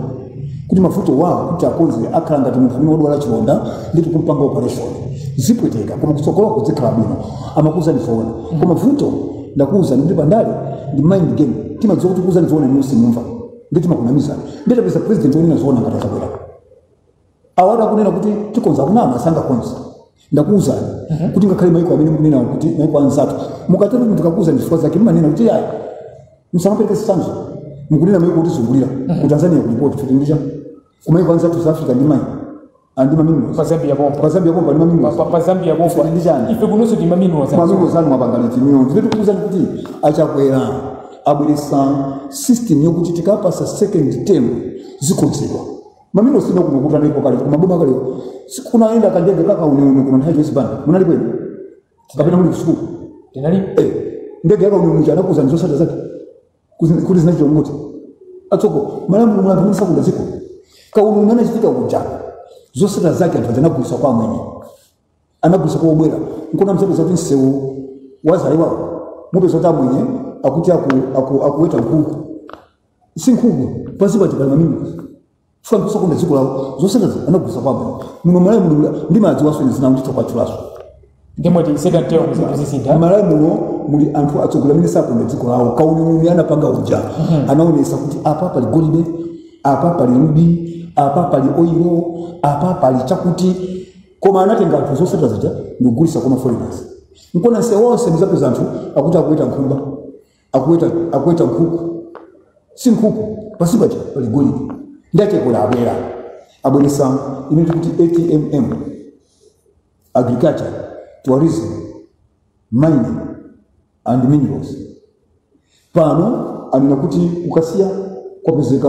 kuti mavutowa kuti akonze akhala ngati munthu amene wadwala chilonda ndiye tikumpanga operation zipweteka koma kutsogolo kudzikhala bwino amakuuzani zoona koma vuto ndakuwuzani kuti pandale ndi mind game timadziwa kuti kukuwuzani zoona inuyo simumva ndiye timakunamizani ndiye tapeza president wonena zoona ngati achakwera awa akunena kuti tikonza kunama sangakonza ndakuwuzani kuti ngakhale maiko amene mukunena kuti maiko anzatu mukatero munthu akakuwuzani zifukwa zake mmanena kuti ayi musamapereke zitsanzo mukunena maiko otizungulira ku tanzania kuli port kuti ndi chani kumaiko anzathu south africa ndi mine ali ndi mamineral pa zambia pompa pa zambia pompa ndi Pa- mamineral pa- pa zambia pompa Ife ndi chani? ife kunonso tili ndi mamineral za mamineral zanu mwapangana chimiro ndiye tikuwuzani kuti achakwera abweresa system yokuti tikawapasa second term zikonzedwa mamineral sina kuno kuti analipo kale koma boma kale kunayenda kandege kakauniuni kuno nthawi ya joyce banda munalipo inu kapena muli kusukulu tinali eh ndege yakauniuni ija anakuuzani zosatira zake Kuzi- kuti zinachita kuti tsoka malawi muno muli anthu amene sakonda dziko kauniuni anachitika uja zosatira zake anthu aja anagulisa kwa amwenye anagulisa kwa obwera nkona muzapeza kuti msewu wa zalewawo mupeza kuti amwenye akuti aku- aku- akuweta nkhuku si nkhuku pansi paja pali mamineral Tsopano kusakonda dziko lawo zosatirazo anagulitsa kwa amwenye. Muno malawi mulibula ndi madzi wasoni zina nditha kuwatchulanso. ndiye mwati second term zinthu zisintha Malawi muno muli anthu atsogoleri amene sakonda dziko lawo. Kauniuni anapanga uja anaonesa kuti apa pali golide, apa pali rubi, apa pali oilo, apa pali chakuti koma anatenga anthu zosatira zija ndikugulisa kwa maforeigners. Nkona msewu wonse muzapeza anthu akuti akuweta nkhumba. akuweta akuweta nkhuku si nkhuku pasi paja pali golide ndiye achakwera abwera abweresa imene tikuti atmm agriculture tourism mining and minerals pano anena kuti ku kasiya kwapezeka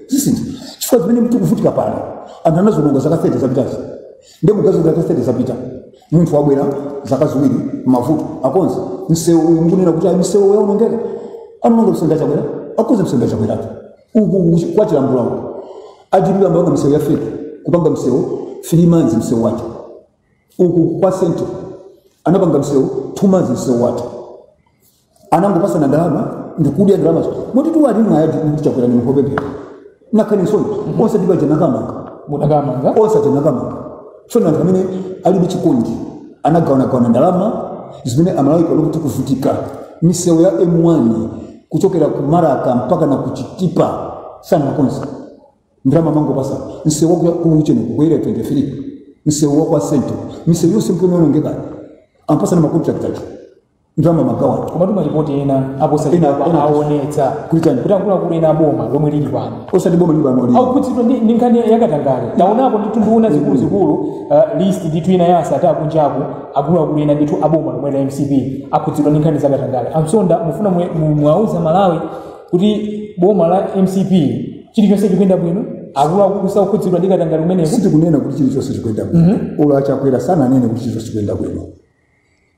zisintha chifukwa zimene tikuvutika pano anthu anazononga zaka 30 zapitazo ndiye mukuganiza zaka 30 zapita munthu wabwera zaka ziwiri mavuto akonze msewu uyu mukunena kuti ayi misewu iyi yaonongeka anononga msewu ndachakwera akonze msewu ndachakwerapo uku kwa chilambula uku a dpp amapanga misewu ya fake kupanga msewu three months msewu watha uku kwa central anapanga msewu two months msewu wake anangopasana ndalama ndikudya ndalama moti tiwalimwa a chakwera ndi nkupepera alibe nsoni onse akubaja anakamanga mudakamanga onse tinakamanga tsono anthu amene alibe chisoni anagawanagawana ndalama zimene amalawi kuti kuvutika misewu ya m1 kuchokera ku marka mpaka na kuchitipa sanakonza ndalama mangopatsana msewu wa ku ntcheu kukwera 23 msewu wa kwa central misewu yonse nkuwonongeka apatsana makontrakti ndalama magawana koma timalipoti ena Ena- aposachedwapa ena- aonetsa Kuti chani? kuti akuluakulu ena aboma lomwe lili pano osati boma lili pano akukhudzidwa ndi ndi nkhani yakatangale taonapo ndithu nduna zikuluzikulu uh, list ndithu ina ya a sattar akunjaku akuluakulu ena ndithu aboma lomwe la mcp akhudzidwa ndi nkhani zakatangale a msonda mufuna mwe- mu- muwauze amalawi kuti boma la mcp chilichonse chikuyenda bwino akuluakulu sakukhudzidwa ndi katangale umenewu sitikunena kuti chilichonse chikuyenda bwino olo achakwera sananene kuti chilichonse chikuyenda bwino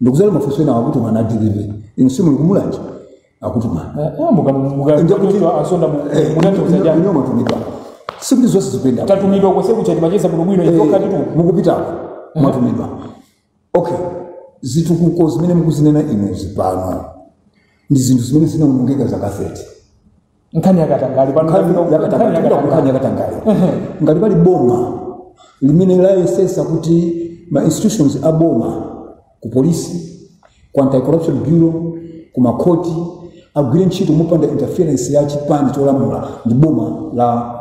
mukudzala mafunso ena akutuma na dpp inu simuli kumulanje akutuma ine mwatumidwa sikuti zonse zikuyenda bwino. tatumidwa konse kuchati macheza bwinobwino Eh, inu nokhatitu mukupitako mwatumidwa ok zitukuko zimene mukuzinena inuzi pano ndi zinthu zimene zinaonongeka zaka 30 nkhani yakatangale pano Nkhani nkhani yakatangale tikupita ku nkhani yakatangale yakatangale ngati pali boma limene layesesa kuti ma institutions a boma ku polisi ku anti-corruption bureau ku makhoti agwire ntchito mopanda interference ya chipani cholamula ndi boma la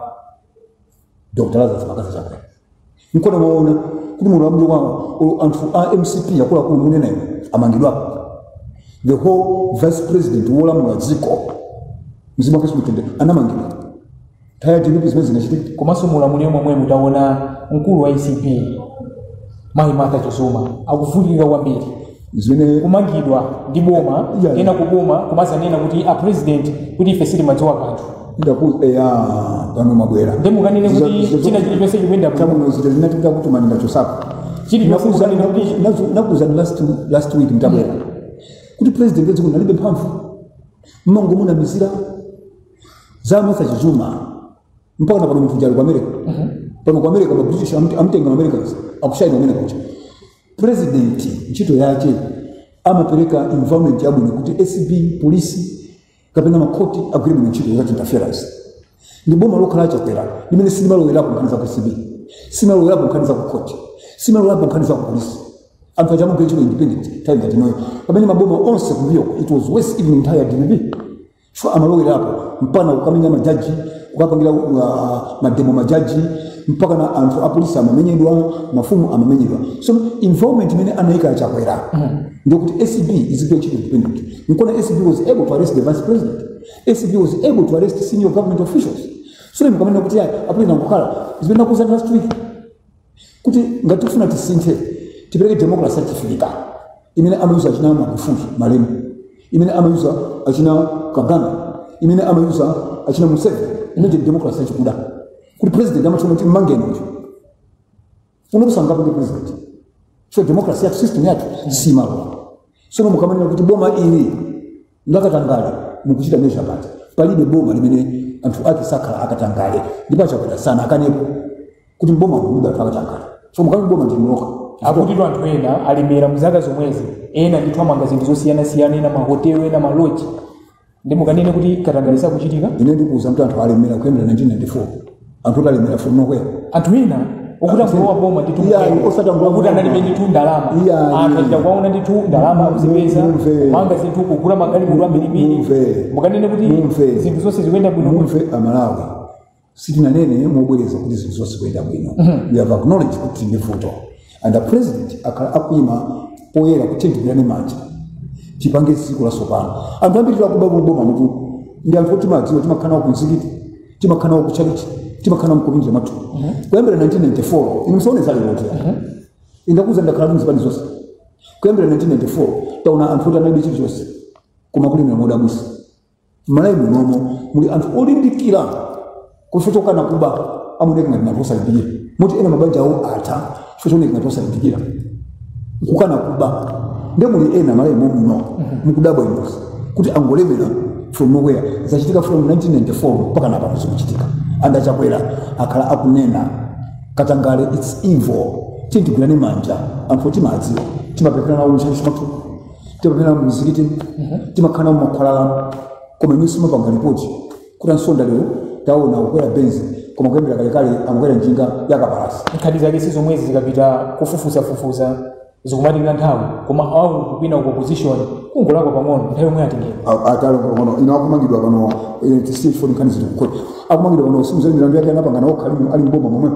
dr lazarus mccarthy chakwera nkona mwaona kuti muulamuliro wawo anthu a mcp akuluakulu mukunenawo amangidwapo the whole vice president wolamula dziko mzimu wake uuse mumtendere anamangidwa nthawi ya dpp zimenezi sizinachitike komanso muulamuliro womwewo mutaona mkulu wa acb mayi martha chizuma akuvutika kwambiri chimene kumangidwa ndi boma Yeah. ena ku boma kumadzanena kuti a president kuti ife sitimadziwa kanthu ndakuuzani pano mwabwera nde mukanene Zizo- kuti zizo- china chilichonse chikuyenda bwino tamuno zita zinatika kuti maninga chosapo Chili chonse Nakuza- kukanena kuti- nakuza- nazo- ndakuuzani last last week mtabwera kuti president wadziko alibe mphamvu mumangomunamizira za martha chizuma mpaka na pano munthu uja ali ku america pano ku america ma british amt- amtenga ma americans akushaina kumene kuja president ntchito yace amapereka environment yabwino kuti acb polisi kapena makhoti agwire bwino ntchito without interference ndi boma lokha la chakwera limene silimalowerapo nkhani za ku acb silimalowerapo nkhani za ku khoti silimalowerapo nkhani za ku polisi anthu aja amagwira ntchito independent nthawi ngati inoyo pamene maboma onse kumbuyo it was worse even nthawi ya dpp chifukwa amalowerapo mpaka kukamenya majaji kukapangira uh, mademo majaji mpaka na anthu apolisi amamenyedwa mafumu amamenyedwa so involvement imene anayika a chakwera ndikuti acb izigwira ntchito independent nkona acb was able to arrest the vice president acb was able to arrest senior government officials so mukamena kuti ayi apolisi ndi nkhani zimene ndakuuzani last week kuti ngati tifuna tisinthe tipereke democracy yachiafirika imene amayuza achina magufuli malemu imene amayuza achina kagame imene amayuza achina museveni imene ndi democracy yachikuda kuti president amatchula kuti mmangeni uyu uno kusankhapo ndi president so democracy yathu system yathu simalola Tsono mukamanena kuti boma ili ndakatangale mukuchita measure pati palibe boma limene anthu ake sakhala akatangale ndipo achakwera sanakanepo kuti mboma mulibe anthu akatangale so mukati boma ndi mnoka kuti anthu ena alemera mu zaka zomwezi ena ndithu amanga zinthu zosiyanasiyana ena mahotelo ena maloji nde mukanene kuti katangale sakuchitika ine ndikuuzani kuti anthu alemera kuyambira 1994 anthu kuti alemera from nowhere anthu ena okuti angolowa boma ndithu okuti analibe ndithu ndalama anthu achita kuwaona ndithu ndalama akuzipeza kumanga zinthu kugula magalimoto ambirimbiri mukanene kuti zinthu zonse zikuyenda bwino mumve amalawi sitinanene mobwereza kuti zinthu zonse zikuyenda bwino we have acknowledged kuti ndi vuto and the president akhala akuyima poyera kuti tigwirane manja tipange dziko latsopano anthu ambiri akuba m'boma mutu ndi anthu oti timawadziwa timakhala nawo kumzikiti timakhala nawo kuchalichi timakhala nawo m'community mathu kuyambira 1994 inu musaone zalerozi ndakuuzani ndakhala muzipani zonse kuyambira 1994 taona anthu oti analibe chilichonse koma kulemera modabwitsa m'malawi munomo muli anthu olimbikira chifukwa chokana kuba amaoneka ngati anthu osalimbikira moti ena mabanja awo atha chifukwa chooneka ngati osalimbikira nkukana kuba nde muli ena malawi mommuno mukudabwa inuyo kuti angolemera from nowhere zachitika from 1994 mpaka napano zikuchitika and achakwera akhala akunena katangale its evil tiyeni tigwirane manja anthu oti timawadziwa timapemphera nawo m'tchalitchi timapemphera mumizikiti timakhala mumakhwalala koma inu simumapanga ripoti kuti ansonda lero taona akukwera benzi koma kuyambira kalekale amakwera njinga yakapalasa nkhani zake si zomwezi zikapita kufufuzafufuza zikumatenga nthawi koma awo akuchipani ku opposition kungolakwa pang'ono nthawi yomwe atengedwa atalakwa pang'ono ino akumangidwa pano eh, tisiyeni foni nkhani zili kukhoti akumangidwa pano si muja milandu yake anapangana okha ali mboma momwe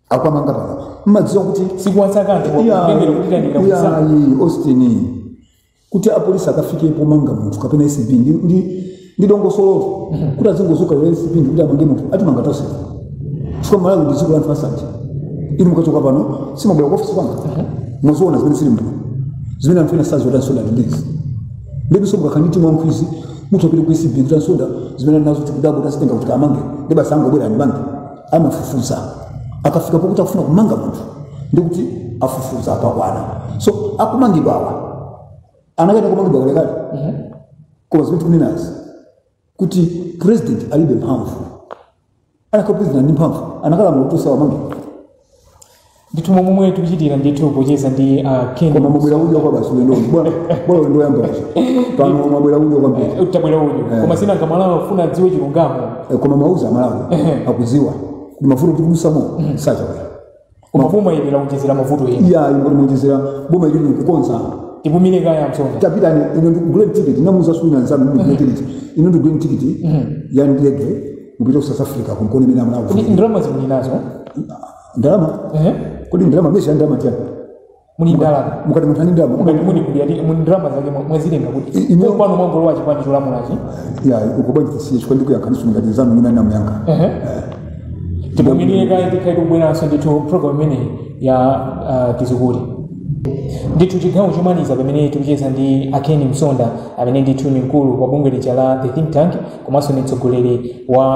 akwamanga pano mmadziwa kuti sikuwasaka anthu kutengera kuti tayandikira kusankha ayi austin kuti apolisi akafike pomanga munthu kapena acb ndi- ndi- ndi dongosolo kuti azingozuka yo acb ndi kuti amange munthu atimanga tonse chifukwa malawi ndi dziko la anthu asanje inu mukachoka pano simumabwera ku ofisi kwanga mudzaona zimene zili muno zimene anthu ena sazilota Msonda ndi izi ndiponso mukakhala ndi timu ya nkhwidzi munthu apite ku acb kuti a Msonda zimene ali nazo tikudabwa kuti azitenga kuti amange ndi basi angobwera ndi bantu amafufuza akafika pokuti akufuna kumanga munthu ndikuti afufuza apakwana so akumangidwa awa anakayenera kumangidwa kalekale koma zimene tikunenazi kuti president alibe mphamvu anakhala president ndi mphamvu anakalamula kuti asamangidwe ndithu momwe momwe tikuchitira ndithu kucheza ndi a Ken koma mabwera udyo kwa basi ulendo bora bora ulendo yamba basi pano mabwera udyo kwa mbiri utabwera udyo koma sinanga aMalawi afuna adziwe chilungamo Eh, koma mauza aMalawi akuziwa ndi mavuto tikudutsamo za Chakwera koma boma ili laonjezera mavuto ena iya ingoti muonjezera boma ili likukonza tipumire kaye a Msonda tapitani inu ndikugulireni tikiti namuza wina nzanu mimi ndigule tikiti inu ndikugulireni tikiti ya ndege kupita ku south africa mukaone mene amalawi ndalama zimene muli nazo ndalama ehe kodi ndalama mesa ndalama chani muli ndalama mukati munthu ali ndalama muli muli kuli ati muli ndalama zake mwa- mwazitenga kuti I- ino- kwanu mwangolowa chipani cholamulachi ya ukubanja tisiye chifukwa ndikuyankhaninso ngati nzanu wina ndinamuyankha ehe tipumire kaye tikhala tikubweranso ndithu program imeneyi ya ah, tiuzeni zoona ndithu chigawo chomaliza pamene tikucheza ndi a Ken Msonda amene ndithu ni mkulu wa bungwe lija la the think tank komanso ni mtsogoleri wa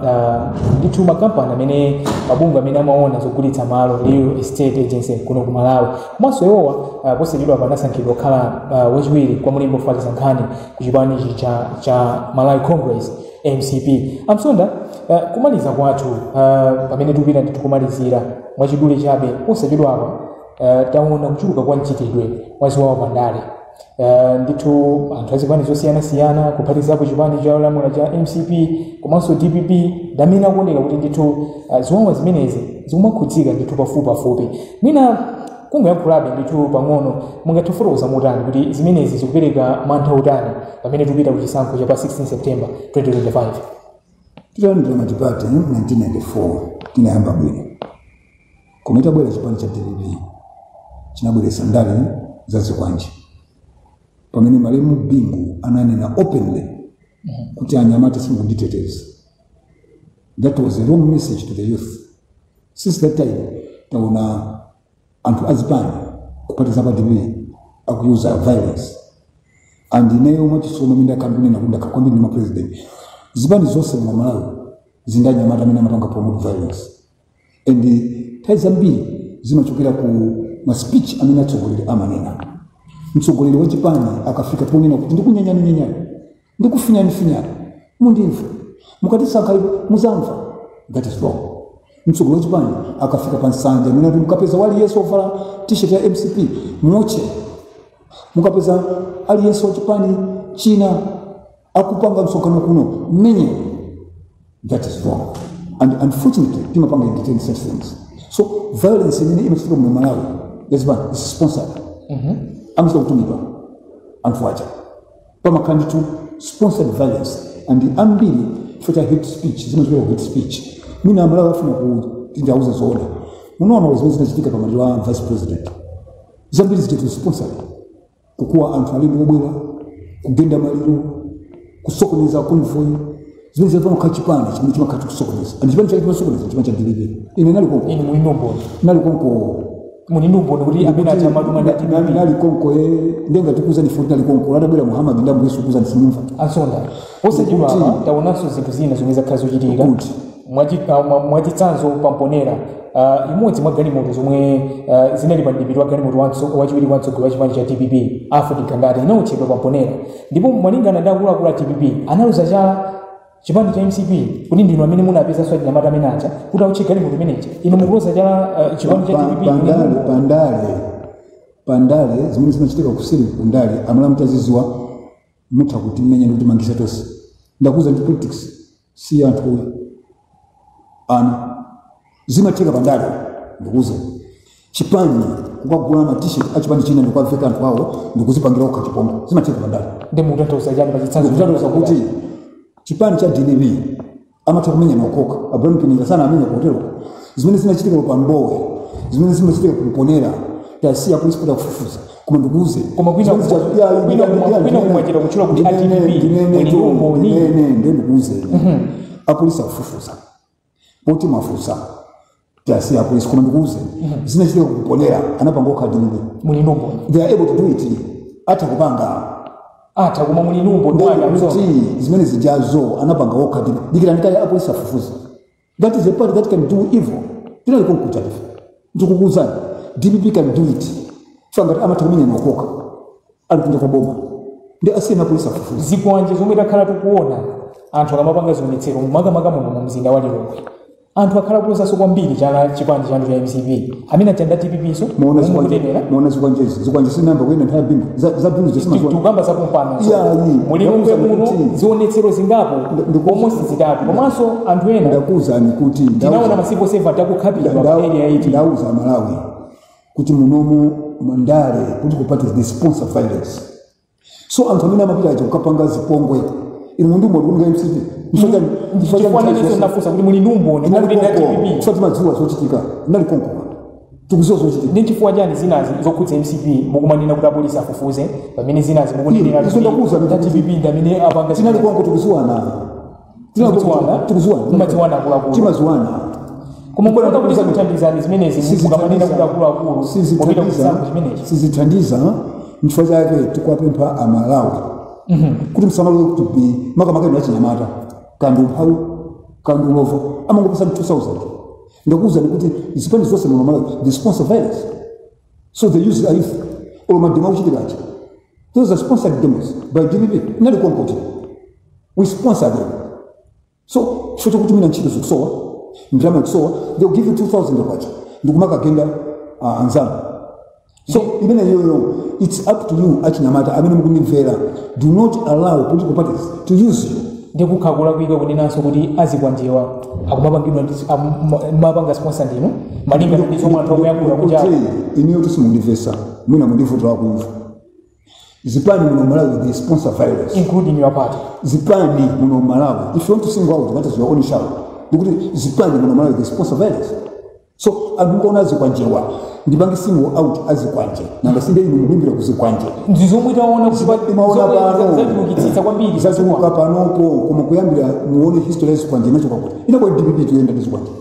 ah, ndithu makampani amene mabungwe amene amaona zogulitsa malo real estate agency kuno ku malawi komanso iwowa ah, posachedwapa anasankhidwa kukhala ah, wachiwiri kwa mlembi ofalitsa nkhani ku chipani ichi cha, cha malawi congress mcp a Msonda ah, kumaliza kwathu ah, pamene tikupita ndithu kumalizira mwachidule chabe posachedwapa ah, taona kuchuluka kwa mchitidwe wa ziwawa pandale Uh, ndithu anthu azipani zosiyanasiyana kuphatizapo chipani cholamula cha mcp komanso dpp ndamene akuoneka kuti ndithu uh, ziwawa zimenezi zikumakhudzika ndithu pafupipafupi mwina kungoyankhulapo ndithu pang'ono mungathe kufotokoza motani kuti zimenezi zikupereka mantha otani pamene tikupita ku chisankho cha pa 16 september 2025 titalandira matipati 1994 tinayamba bwino Koma chitabwera chipani cha dpp chinabweretsa ndale za zikwanje, pamene malemu Bingu ananena openly kuti anyamata simukunditeteza. That was a wrong message to the youth. Since that time taona anthu azipani kuphatikizapo dpp akuyuza violence and ineyo masiku onse ndimanena kuti ndakakambirana ndi mapresident zipani zonse mu Malawi zili ndi anyamata amene amapanga promote violence and nthawi zambiri zimachokera ku ma speech amene atsogoleri amanena mtsogoleri wa chipani akafika ponena kuti ndikunyanyaninyenyani ndikufinyanifinyani mundimva mukatisankha ipo muzamva that is wrong mtsogoleri wa chipani akafika pa nsanja nkunena kuti mukapeza waliyense ovala t-shirt ya mcp muotche mukapeza aliyense wa chipani china akupanga msonkhano kuno mumenye That is wrong. And unfortunately, timapanga entertain such things. So violence imene imachitika mu Malawi, yambiri is sponsored. Amachita kutumidwa anthu aja. Pamakhala ndithu sponsored violence and ambiri chifukwa cha hate speech zimachokera ku hate speech. Mwina aMalawi afuna kuti ndiwauze zoona. Munaona zimene zinachitika pa maliro a vice president. Zambiri zijatu sponsored. kukuwa anthu alendo obwera kukhuza maliro kusokoneza konvoyi zimene zinafuna kukhala chipani chimene chimakhala chikusokoneza and chipani chake chimasokoneza chipani cha dpp ine nali konko inu muli ndi umboni nali konko muli ndi umboni kuti amene aja amatumidwa ndi a dpp nali konko ye ndenga tikuuzani poti nali konko atabwera muhammad ndi ambuye yesu kukuuzani simumva posachedwa apa taonanso zinthu zina zomwe zakhala zikuchitika kuti mwachitsanzo pa mponela uh, imodzi mwa galimoto zomwe uh, zinali pa mdipiti wa galimoto wamtso- wachiwiri kwa mtsogoleri wa chipani cha dpp alfred gangata inaotchedwa pa mponela ndipo malingana ndi akuluakulu a dpp analoza chala chipani cha mcp kuti ndinu amene munapeza achinyamata amene aja kuti aotche galimoto imeneja inu mukuloza chala uh, chipani cha Pa- dpp pandale kuti- pandale pandale zimene zimachitika kuseri ku ndale a malawi mutazidziwa mutha kutimenya ndikutimangitsa tonse ndakuuzani ndi politics si zinthu ayi zimatheka pandale ndikuuze chipani kukagula ma t-shirt achipani china ndikukaveka anthu awo ndikuzipangira okha chipongwe zimatheka pandale nde mukutanthauza chani pa chitsanzo ndikutanthauza kuti chipani cha dpp anatha kumenya okhaokha abraham sanawamenye kotero zimene zinachitika pa mbowe zimene zimachitika ku mponela tawasiya apolisi kuti akufufuza koma ndikuuze koma kwina Zimene zija- ya- ya- kwina ya- kumwa- ya- kwina ya- mwachedwa kutchula kuti ndinene- a dpp ndinene- muli ndi umboni ndinene nde ndikuuze apolisi akufufuza poti mwafunsa tiwasiye apolisi koma ndikuuze zinachitika ku mponela anapanga okha a dpp muli ndi umboni they are able to do it atha kupanga atha koma muli ndi umboni wake wosonyeza kuti zimene zijazo anapanga okha a dpp dikirani kaye apolisi afufuze that is a party that can do evil tinali konkuja ife ndikukuuzani dpp can do it so ngati amatha kumenya okhaokha ali kunja kwa boma nde asiyeni apolisi afufuze zikwanje zomwe takhala tikuona anthu akamapanga zionetsero makamaka muno mu mzinda wa lilongwe anthu akhala akulozanso kwambiri chala chipani chanu cha mcp amene achita nda dpp so Muona zikwa- mumukutemera muona zikwanjezi zikwanje zinayamba kuyenda nthawi bingu za za bingu zisimaziwa tikukamba za pompano Iya, iyi. mu lilongwe Ndakuuza muno kuti- zionetsero zingapo Nda- ndikuza- almost zitatu komanso anthu ena ndakuwuzani kuti ndauza- tinaona ma civil servant Nda- akukhapidwa nda- pa area 18 ndauza amalawi kuti munomu mandale political parties they sponsor violence so anthu amene amapita aja kukapanga zipongwe inu muli ndi umboni kuti nga mcp chifukwa nanenso ndafunsa kuti muli ndi umboni kuti nda dpp chifukwa timadziwa zochitika ndinali konko tikuziwa zochitika ndi chifukwa chani zinazi zokhudza mcp mukumanena kuti apolisi afufuze pamene zinazi mukunenera Izo ndakuwuza kuti kuti dpp ndamene apanga tinali zinazi. konko tikuziwana Timakudziwana, tikudziwana. Timadziwana akuluakulu. timaziwana Koma mukuona kuti zikuthandizani zimenezi mukamanena kuti akuluakulu popita kuchisankho chimenechi. sizithandiza nchifukwa chake tikuwapempha amalawi kuti musalole kuti bi makamaka inu achinyamata kaya ndi umphawi kaya ndi ulova amangokupatsani 2000 ndakuwuzani kuti zipani zonse muno malawi they sponsor violence so they use the youth olo mademo akuchitika aja Those are sponsored demos by DPP. Nali konkoto. We sponsor them. So, chifukwa choti mwina ntchito zikusowa, ndalama ikusowa, they will give you 2000 kwacha. Ndikumakagenda uh, anzanu. So, imeneyoyo, it's up to you achinyamata amene mukunimvera. Do not allow political parties to use you. ndiye kukhala kulakwa kunenanso kuti azikwanjewa akumapangidwa ndi- amu- ma- mapanga sponsor ndinu malinga ndi zomwe anthu akuyankhula kuti ayi. Kuti ineyo simundimvetsa. mwina muli ndi vuto lakumva zipani muno malawi they sponsor violence including your party zipani muno malawi if you want to single out that is your own shout ndikuti zipani muno malawi they sponsor violence so anthu mukaona azikwanjewa ndipange single out azikwanje nanga si ndinu mukulimbikira kuzikwanje ndi zomwe taona kuti pa- Timaona zomwe pano. zachulukitsitsa kwambiri zachuluka panopo koma kuyambira muone history yazikwanje inachoka kuti inali kwa dpp tikuyenda ndi zikwanje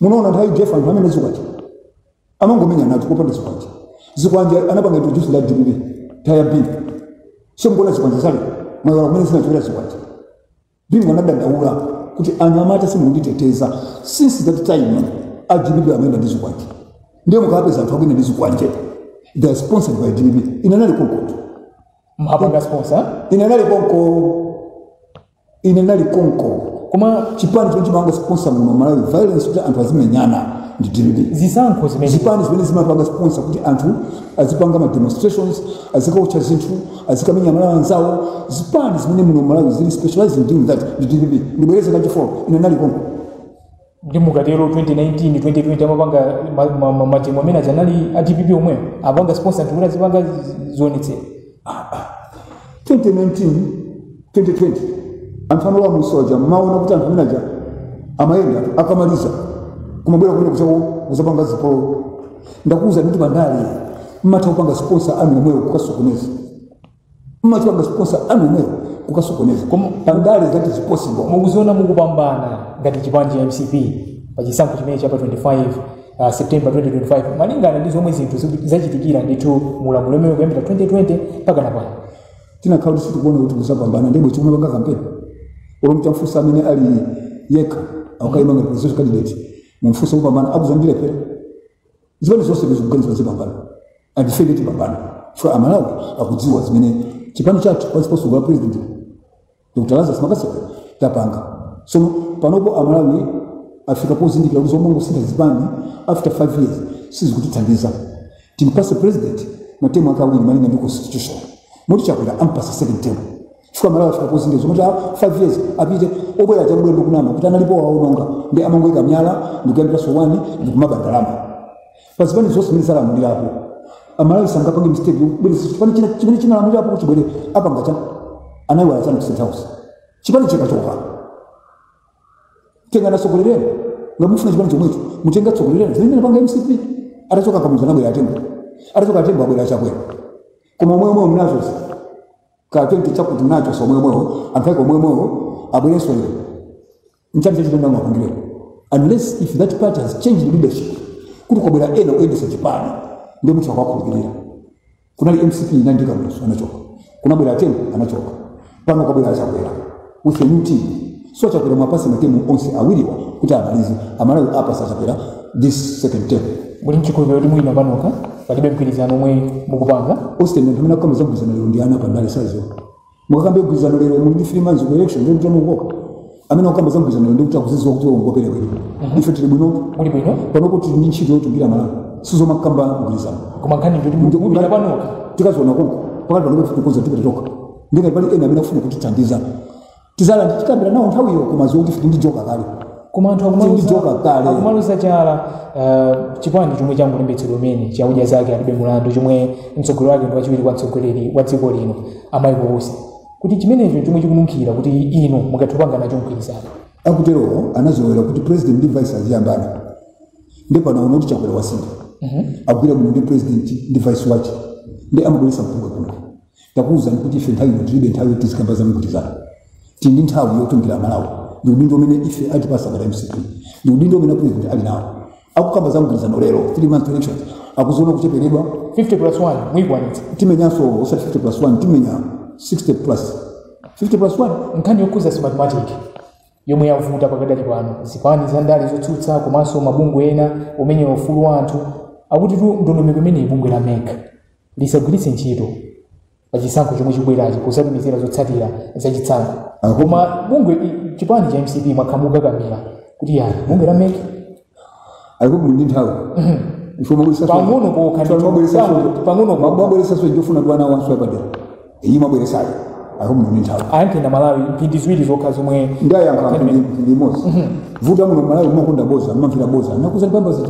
munaona nthawi ya udf anthu amayenda ndi zikwanje amangomenyana choncho opanda zikwanje zikwanje anapanga introduce nda dpp nthawi ya bingu so mukuona zikwanje zalero mwaiwala kumene zinachokera zikwanje bingu anadandaula kuti anyamata simukunditeteza since that time a dpp amayenda ndi zikwanje ndiye mukapeza anthu akuyenda ndi zikwanje they are sponsored by dpp ine nali konkoto timapanga sponsor ine nali konko ine ndinali konko koma chipani chimene chimapanga sponsor muno malawi violence kuti anthu azimenyana ndi dpp zisankho zimene zipani zimene zimapanga sponsor kuti anthu azipanga ma demonstrations azikaotcha zinthu azikamenya amalawi anzawo zipani zimene muno malawi zili specialized in doing that ndi dpp ndibwereze kachifolo ine ndinali konko ndi mukatero 2019 2020 amapanga ma- ma- ma- mademo amene aja anali a dpp omweyo apanga sponsor anthu kuti azipanga zi- zionetsero 2019 2020 anthu amalowa musonja mmaona kuti anthu amenaja amayenda akamaliza kumabwera kumene kuzawo kuzapanga zipolowe ndakuuza kuti pandale mmatha kupanga sponsor anthu omwewo kukasokoneza mmachita sponsor anthu omwewo kukasokoneza koma pandale that is possible koma mukuziona mukupambana ngati chipani cha mcp pa chisankho chimene cha pa 25 uh, september 2025 malingana ndi zomwe zinthu ziku- zachitikira ndithu mulamuliro umene kuyambira 2020 mpaka napano tikanakhala kuti sitikuona kuti tizapambana ndiye bwenzi tikupanga kampeni olo mtamfusa amene ali yekha akayima ngati presidential candidate mumfusa kupambana akuuzani kuti alephera zipani zonse zikuganiza zipambana and ife nde tipambana chifukwa amalawi akudziwa zimene chipani chathu pansi pa usogoleri wa president dr lazarus mccarthy tapanga so panopo amalawi afika pozindikira kuti zomangosintha zipani after five years sizikutithandiza timpase president matemu ake awiri malinga ndi constitution moti chakwera ampasa second term chifukwa amalawi afika pozindikira zomati after 5 years apite obwera aja kubwera ndikunama kuti analipo waononga nde amangoika myala ndikuyambiranso wani ndikumaba ndalama pa zipani zonse zimene zalamulirapo amalawi sangapange mistake yobwereza chipani china chimene chinalamulirapo kuti chibwere chipanga chani anayiwala chani ku state house chipani chikachoka tengani ena atsogolereni ngati mufuna chipani chomwecho mutenge atsogoleri ena zimene inapanga mcp atachoka kamuzu anabwera atembo atachoka atembo abwera chakwera koma omwe omwe mnazozi ka 20 chakuti nacho omwemwewo anthu ake omwemwewo abwerenso lero nchani chasintha mapangidwe unless if that party has changed leadership kuti kwabwera ena oyendesa chipani ndiye mutha kuwakhulupirira kunali mcp ina ndi kamuzu anachoka kunabwera atembo anachoka pano kwabwera achakwera with a new team so chakwera amupase matemu onse awiriwa kuti amalize amalawi ampasa chakwera this second term muli mchikhulupiriro kuti mwina panokha palibe mgwirizano omwe mukupanga austin anthu amene akukamba zagwirizana lero ndi ana pandale sizo mukakambe kugwirizana lero muli ndi three months ku election ndiye kuti mungogoma amene akukamba zagwirizana lero ndiye kuti akuziziwa kuti ndi operewera ife tili bwino muli bwino panopo tili ndi ntchito yotumikira malawi sizomakamba mgwirizano koma nkhani ndi kuti mukupita panokha tikaziona konko pakadali panopo tikukonza tipita tokha nde ngati pali ena amene akufuna kutithandiza tizakhala ndikukambirana nawo nthawiyo koma zoti ndife odyoka kale koma anthu Tindi joka kale. akumaloza chala uh, chipani chomwe changolembetsedwa kumene cha odya zake alibe mulandu chomwe mtsogoleri wake ndi wachiwiri kwa mtsogoleri wa dziko lino a michael usi kuti chimenecho chomwe chikununkhira kuti inu mungathe kupanga nacho mgwirizano akuterowo anazolowera kuti president ndi vice aziyambana nde pano aona kuti chakwera wasintha akugwira bwino ndi president ndi vice wache nde amabweresa mpungwepungwe Takuuza kuti ife nthawi ino tilibe nthawi yoti tizikamba za mgwirizano. Tili ndi nthawi yotumikira Amalawi ndi udindo umene ife atipatsa a mcp ndi udindo umene apulezidenti ali nawo. Akukamba za mgwirizano lero, three months to elections, akuziona kucheperedwa. 50 plus 1 muyikwanitsa. Timenyanso osati 50 plus 1, timenya 60 plus 1. Nkhani yokhudza smartmatic yomwe yavuta pakadali pano, zipani za ndale zotsutsa komanso mabungwe ena omenyera ufulu wa anthu akutitu ndondomeko imeneyi bungwe la mec lisagwiritse ntchito pa chisankho chomwe chikubwerachi potumizira zotsatira za chisankho koma bungwe i- chipani cha mcp mwakakamira kuti yani bungwe la mec alikuwa ndi nthawi Pang'ono pokha ndi pang'ono- pang'ono pokha. mabweresaso chofuna kuti ana wanso yapadera iyi mabweresayo alikuwa ndi nthawi a Mpinganjira malawi mphindi ziwiri zokha zomwe ndayankha ndi mosavuta muno malawi mmakonda bodza mmamvera bodza ndakuuzani pamba zita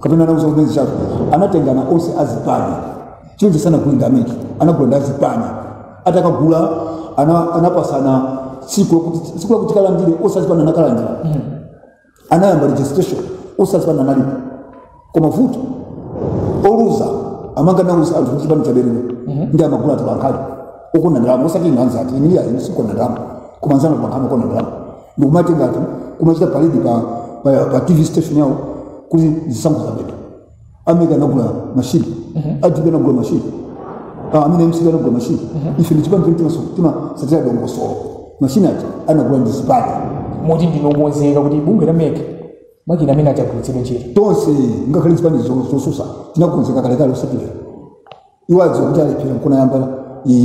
kapena anauza kunezi chako anatengana onse azipani choncho sanagule ndi a mec anagula ndi azipani atakagula ana, anapasana tsiku lokuti- tsiku lakuti kalandire onse azipani anakalandira anayamba registration onse azipani analipo koma vuto oluza amanka nauza anthu kuti chipani chabera ndi amagula atolankhani okonda ndalama osati inu anzathu inuyo inu sokonda ndalama koma anzanu atolankhani okonda ndalama nkumati ngati kumachita paredi pa, pa, pa tv station yawo kuti zisankho zabedwa amene anagula mashini a dpp anagula mashini Ah, amene mcp anagula mashini ife ndi chipani chomwe timaso- timatsatira dongosolo mashini ati anagula ndi zipani moti ndinu okonzeka kuti bungwe la mec makina amene adzagwiritsidwe ntchito tonse ngakhale zipani zo- zotsutsa tinakonzeka kalekale usatire adziwa kuti alephera nkuyamba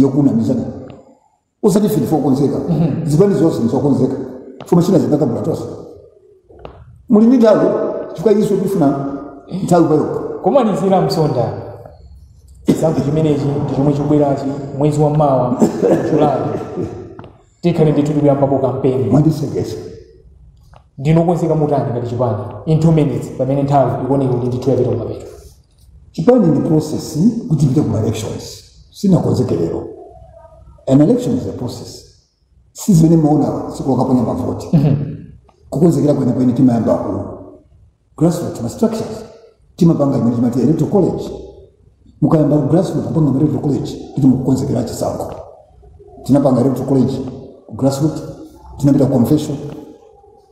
kunamizana osati ife ndife okonzeka zipani zonse ndizokonzeka chuma china tikakagula tonse muli ndi nthawi chifukwa iso tifuna nthawi payoka kumalizira a msonda chisankho chimenechi ndi chomwe chikubwerachi mwezi wa mawa julayi tikhale ndithu tikuyambapo kampeni mwandiseketsa ndinu okonzeka motani ngati chipani in two minutes pamene nthawi ikuoneka kuti ndithu yapita kumapeto chipani ili ndi process kuti tipite ku ma elections sitinakonzeke lero an election is a process si zimene mumaona tsiku lokaponya mavoti kukonzekera kwenikweni timayamba ku grassroot ma structures timapanga imene timati electoral college mukayamba ku grassroot kupanga ma electoral college kuti mukukonzekera chisankho tinapanga electoral college ku grassroot tinapita ku convention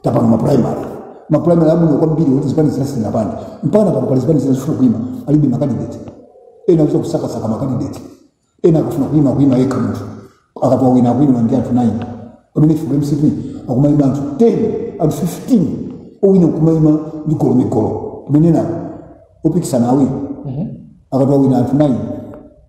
tapanga maprimary maprimary abwino kwambiri oti zipani zina sizinapange mpaka pano pali zipani zina zikufuna kuima alibe makandidate ena akuchita kusakasaka makandidate ena akafuna kuima kuima yekha munthu akatoa wina akuima ndi anthu 9 pamene ife ku mcp akumaima anthu 10 anthu 15 owina kumaima ndi migolo migolo pamene ena opikisana awiri akatoa wina anthu 9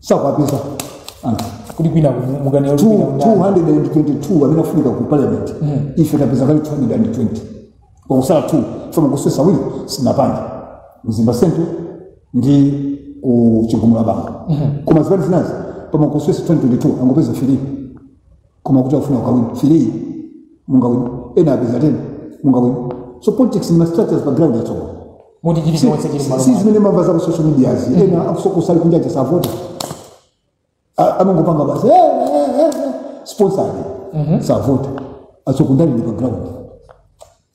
sakwapeza anthu kuti kwina mukanena kuti kwina mundani. 222 amene afunika ku parliament ife tapeza kale 220 kwasala 2 chifukwa kusesa uku sitinapange mzimba central ndi ku chigumula bangwe koma zipani zinazi pamakusesa 222 angopeza firi koma kuti akufuna akawine three mungawine ena apeza ten mungawine so politics ni mastructures pa ground yatsogolo moti chili chonse chili mmalo si mwake. zimene mumamva za ku social medias ena akusokosa ali kunja savota amangopanga basi eh, eh, eh, eh, sponsor savota asokundalira pa ground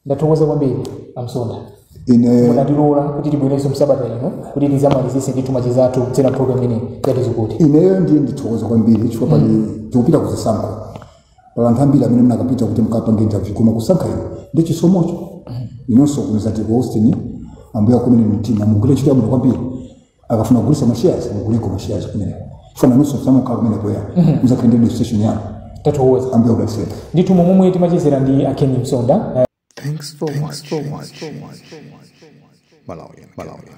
ndathokoza kwambiri amsonda ine mwatilola kuti tibwerenso msabata ino kuti tizamalizise ndithu macheza athu kudzera program imeneyi ya tiuzeni ineyo ndiye ndithokoza kwambiri chifukwa pali tikupita kuzisankho pali anthu ambiri amene munakapita kuti mukapanga interview koma kusankha ine ndi chisomocho inonso kumeneko a austin ambuye akukomereni mtima mugwire ntchito yabwino kwambiri akafuna kugulisa ma shares muguleko ma shares kumene fana nusu samu ka kumene kwa muzakhale ndi registration yanu tathokoza ambuye akudalitseni ndithu umo ndi momwe timachezera ndi a ken msonda Thanks for watching. Malawian. Malawian.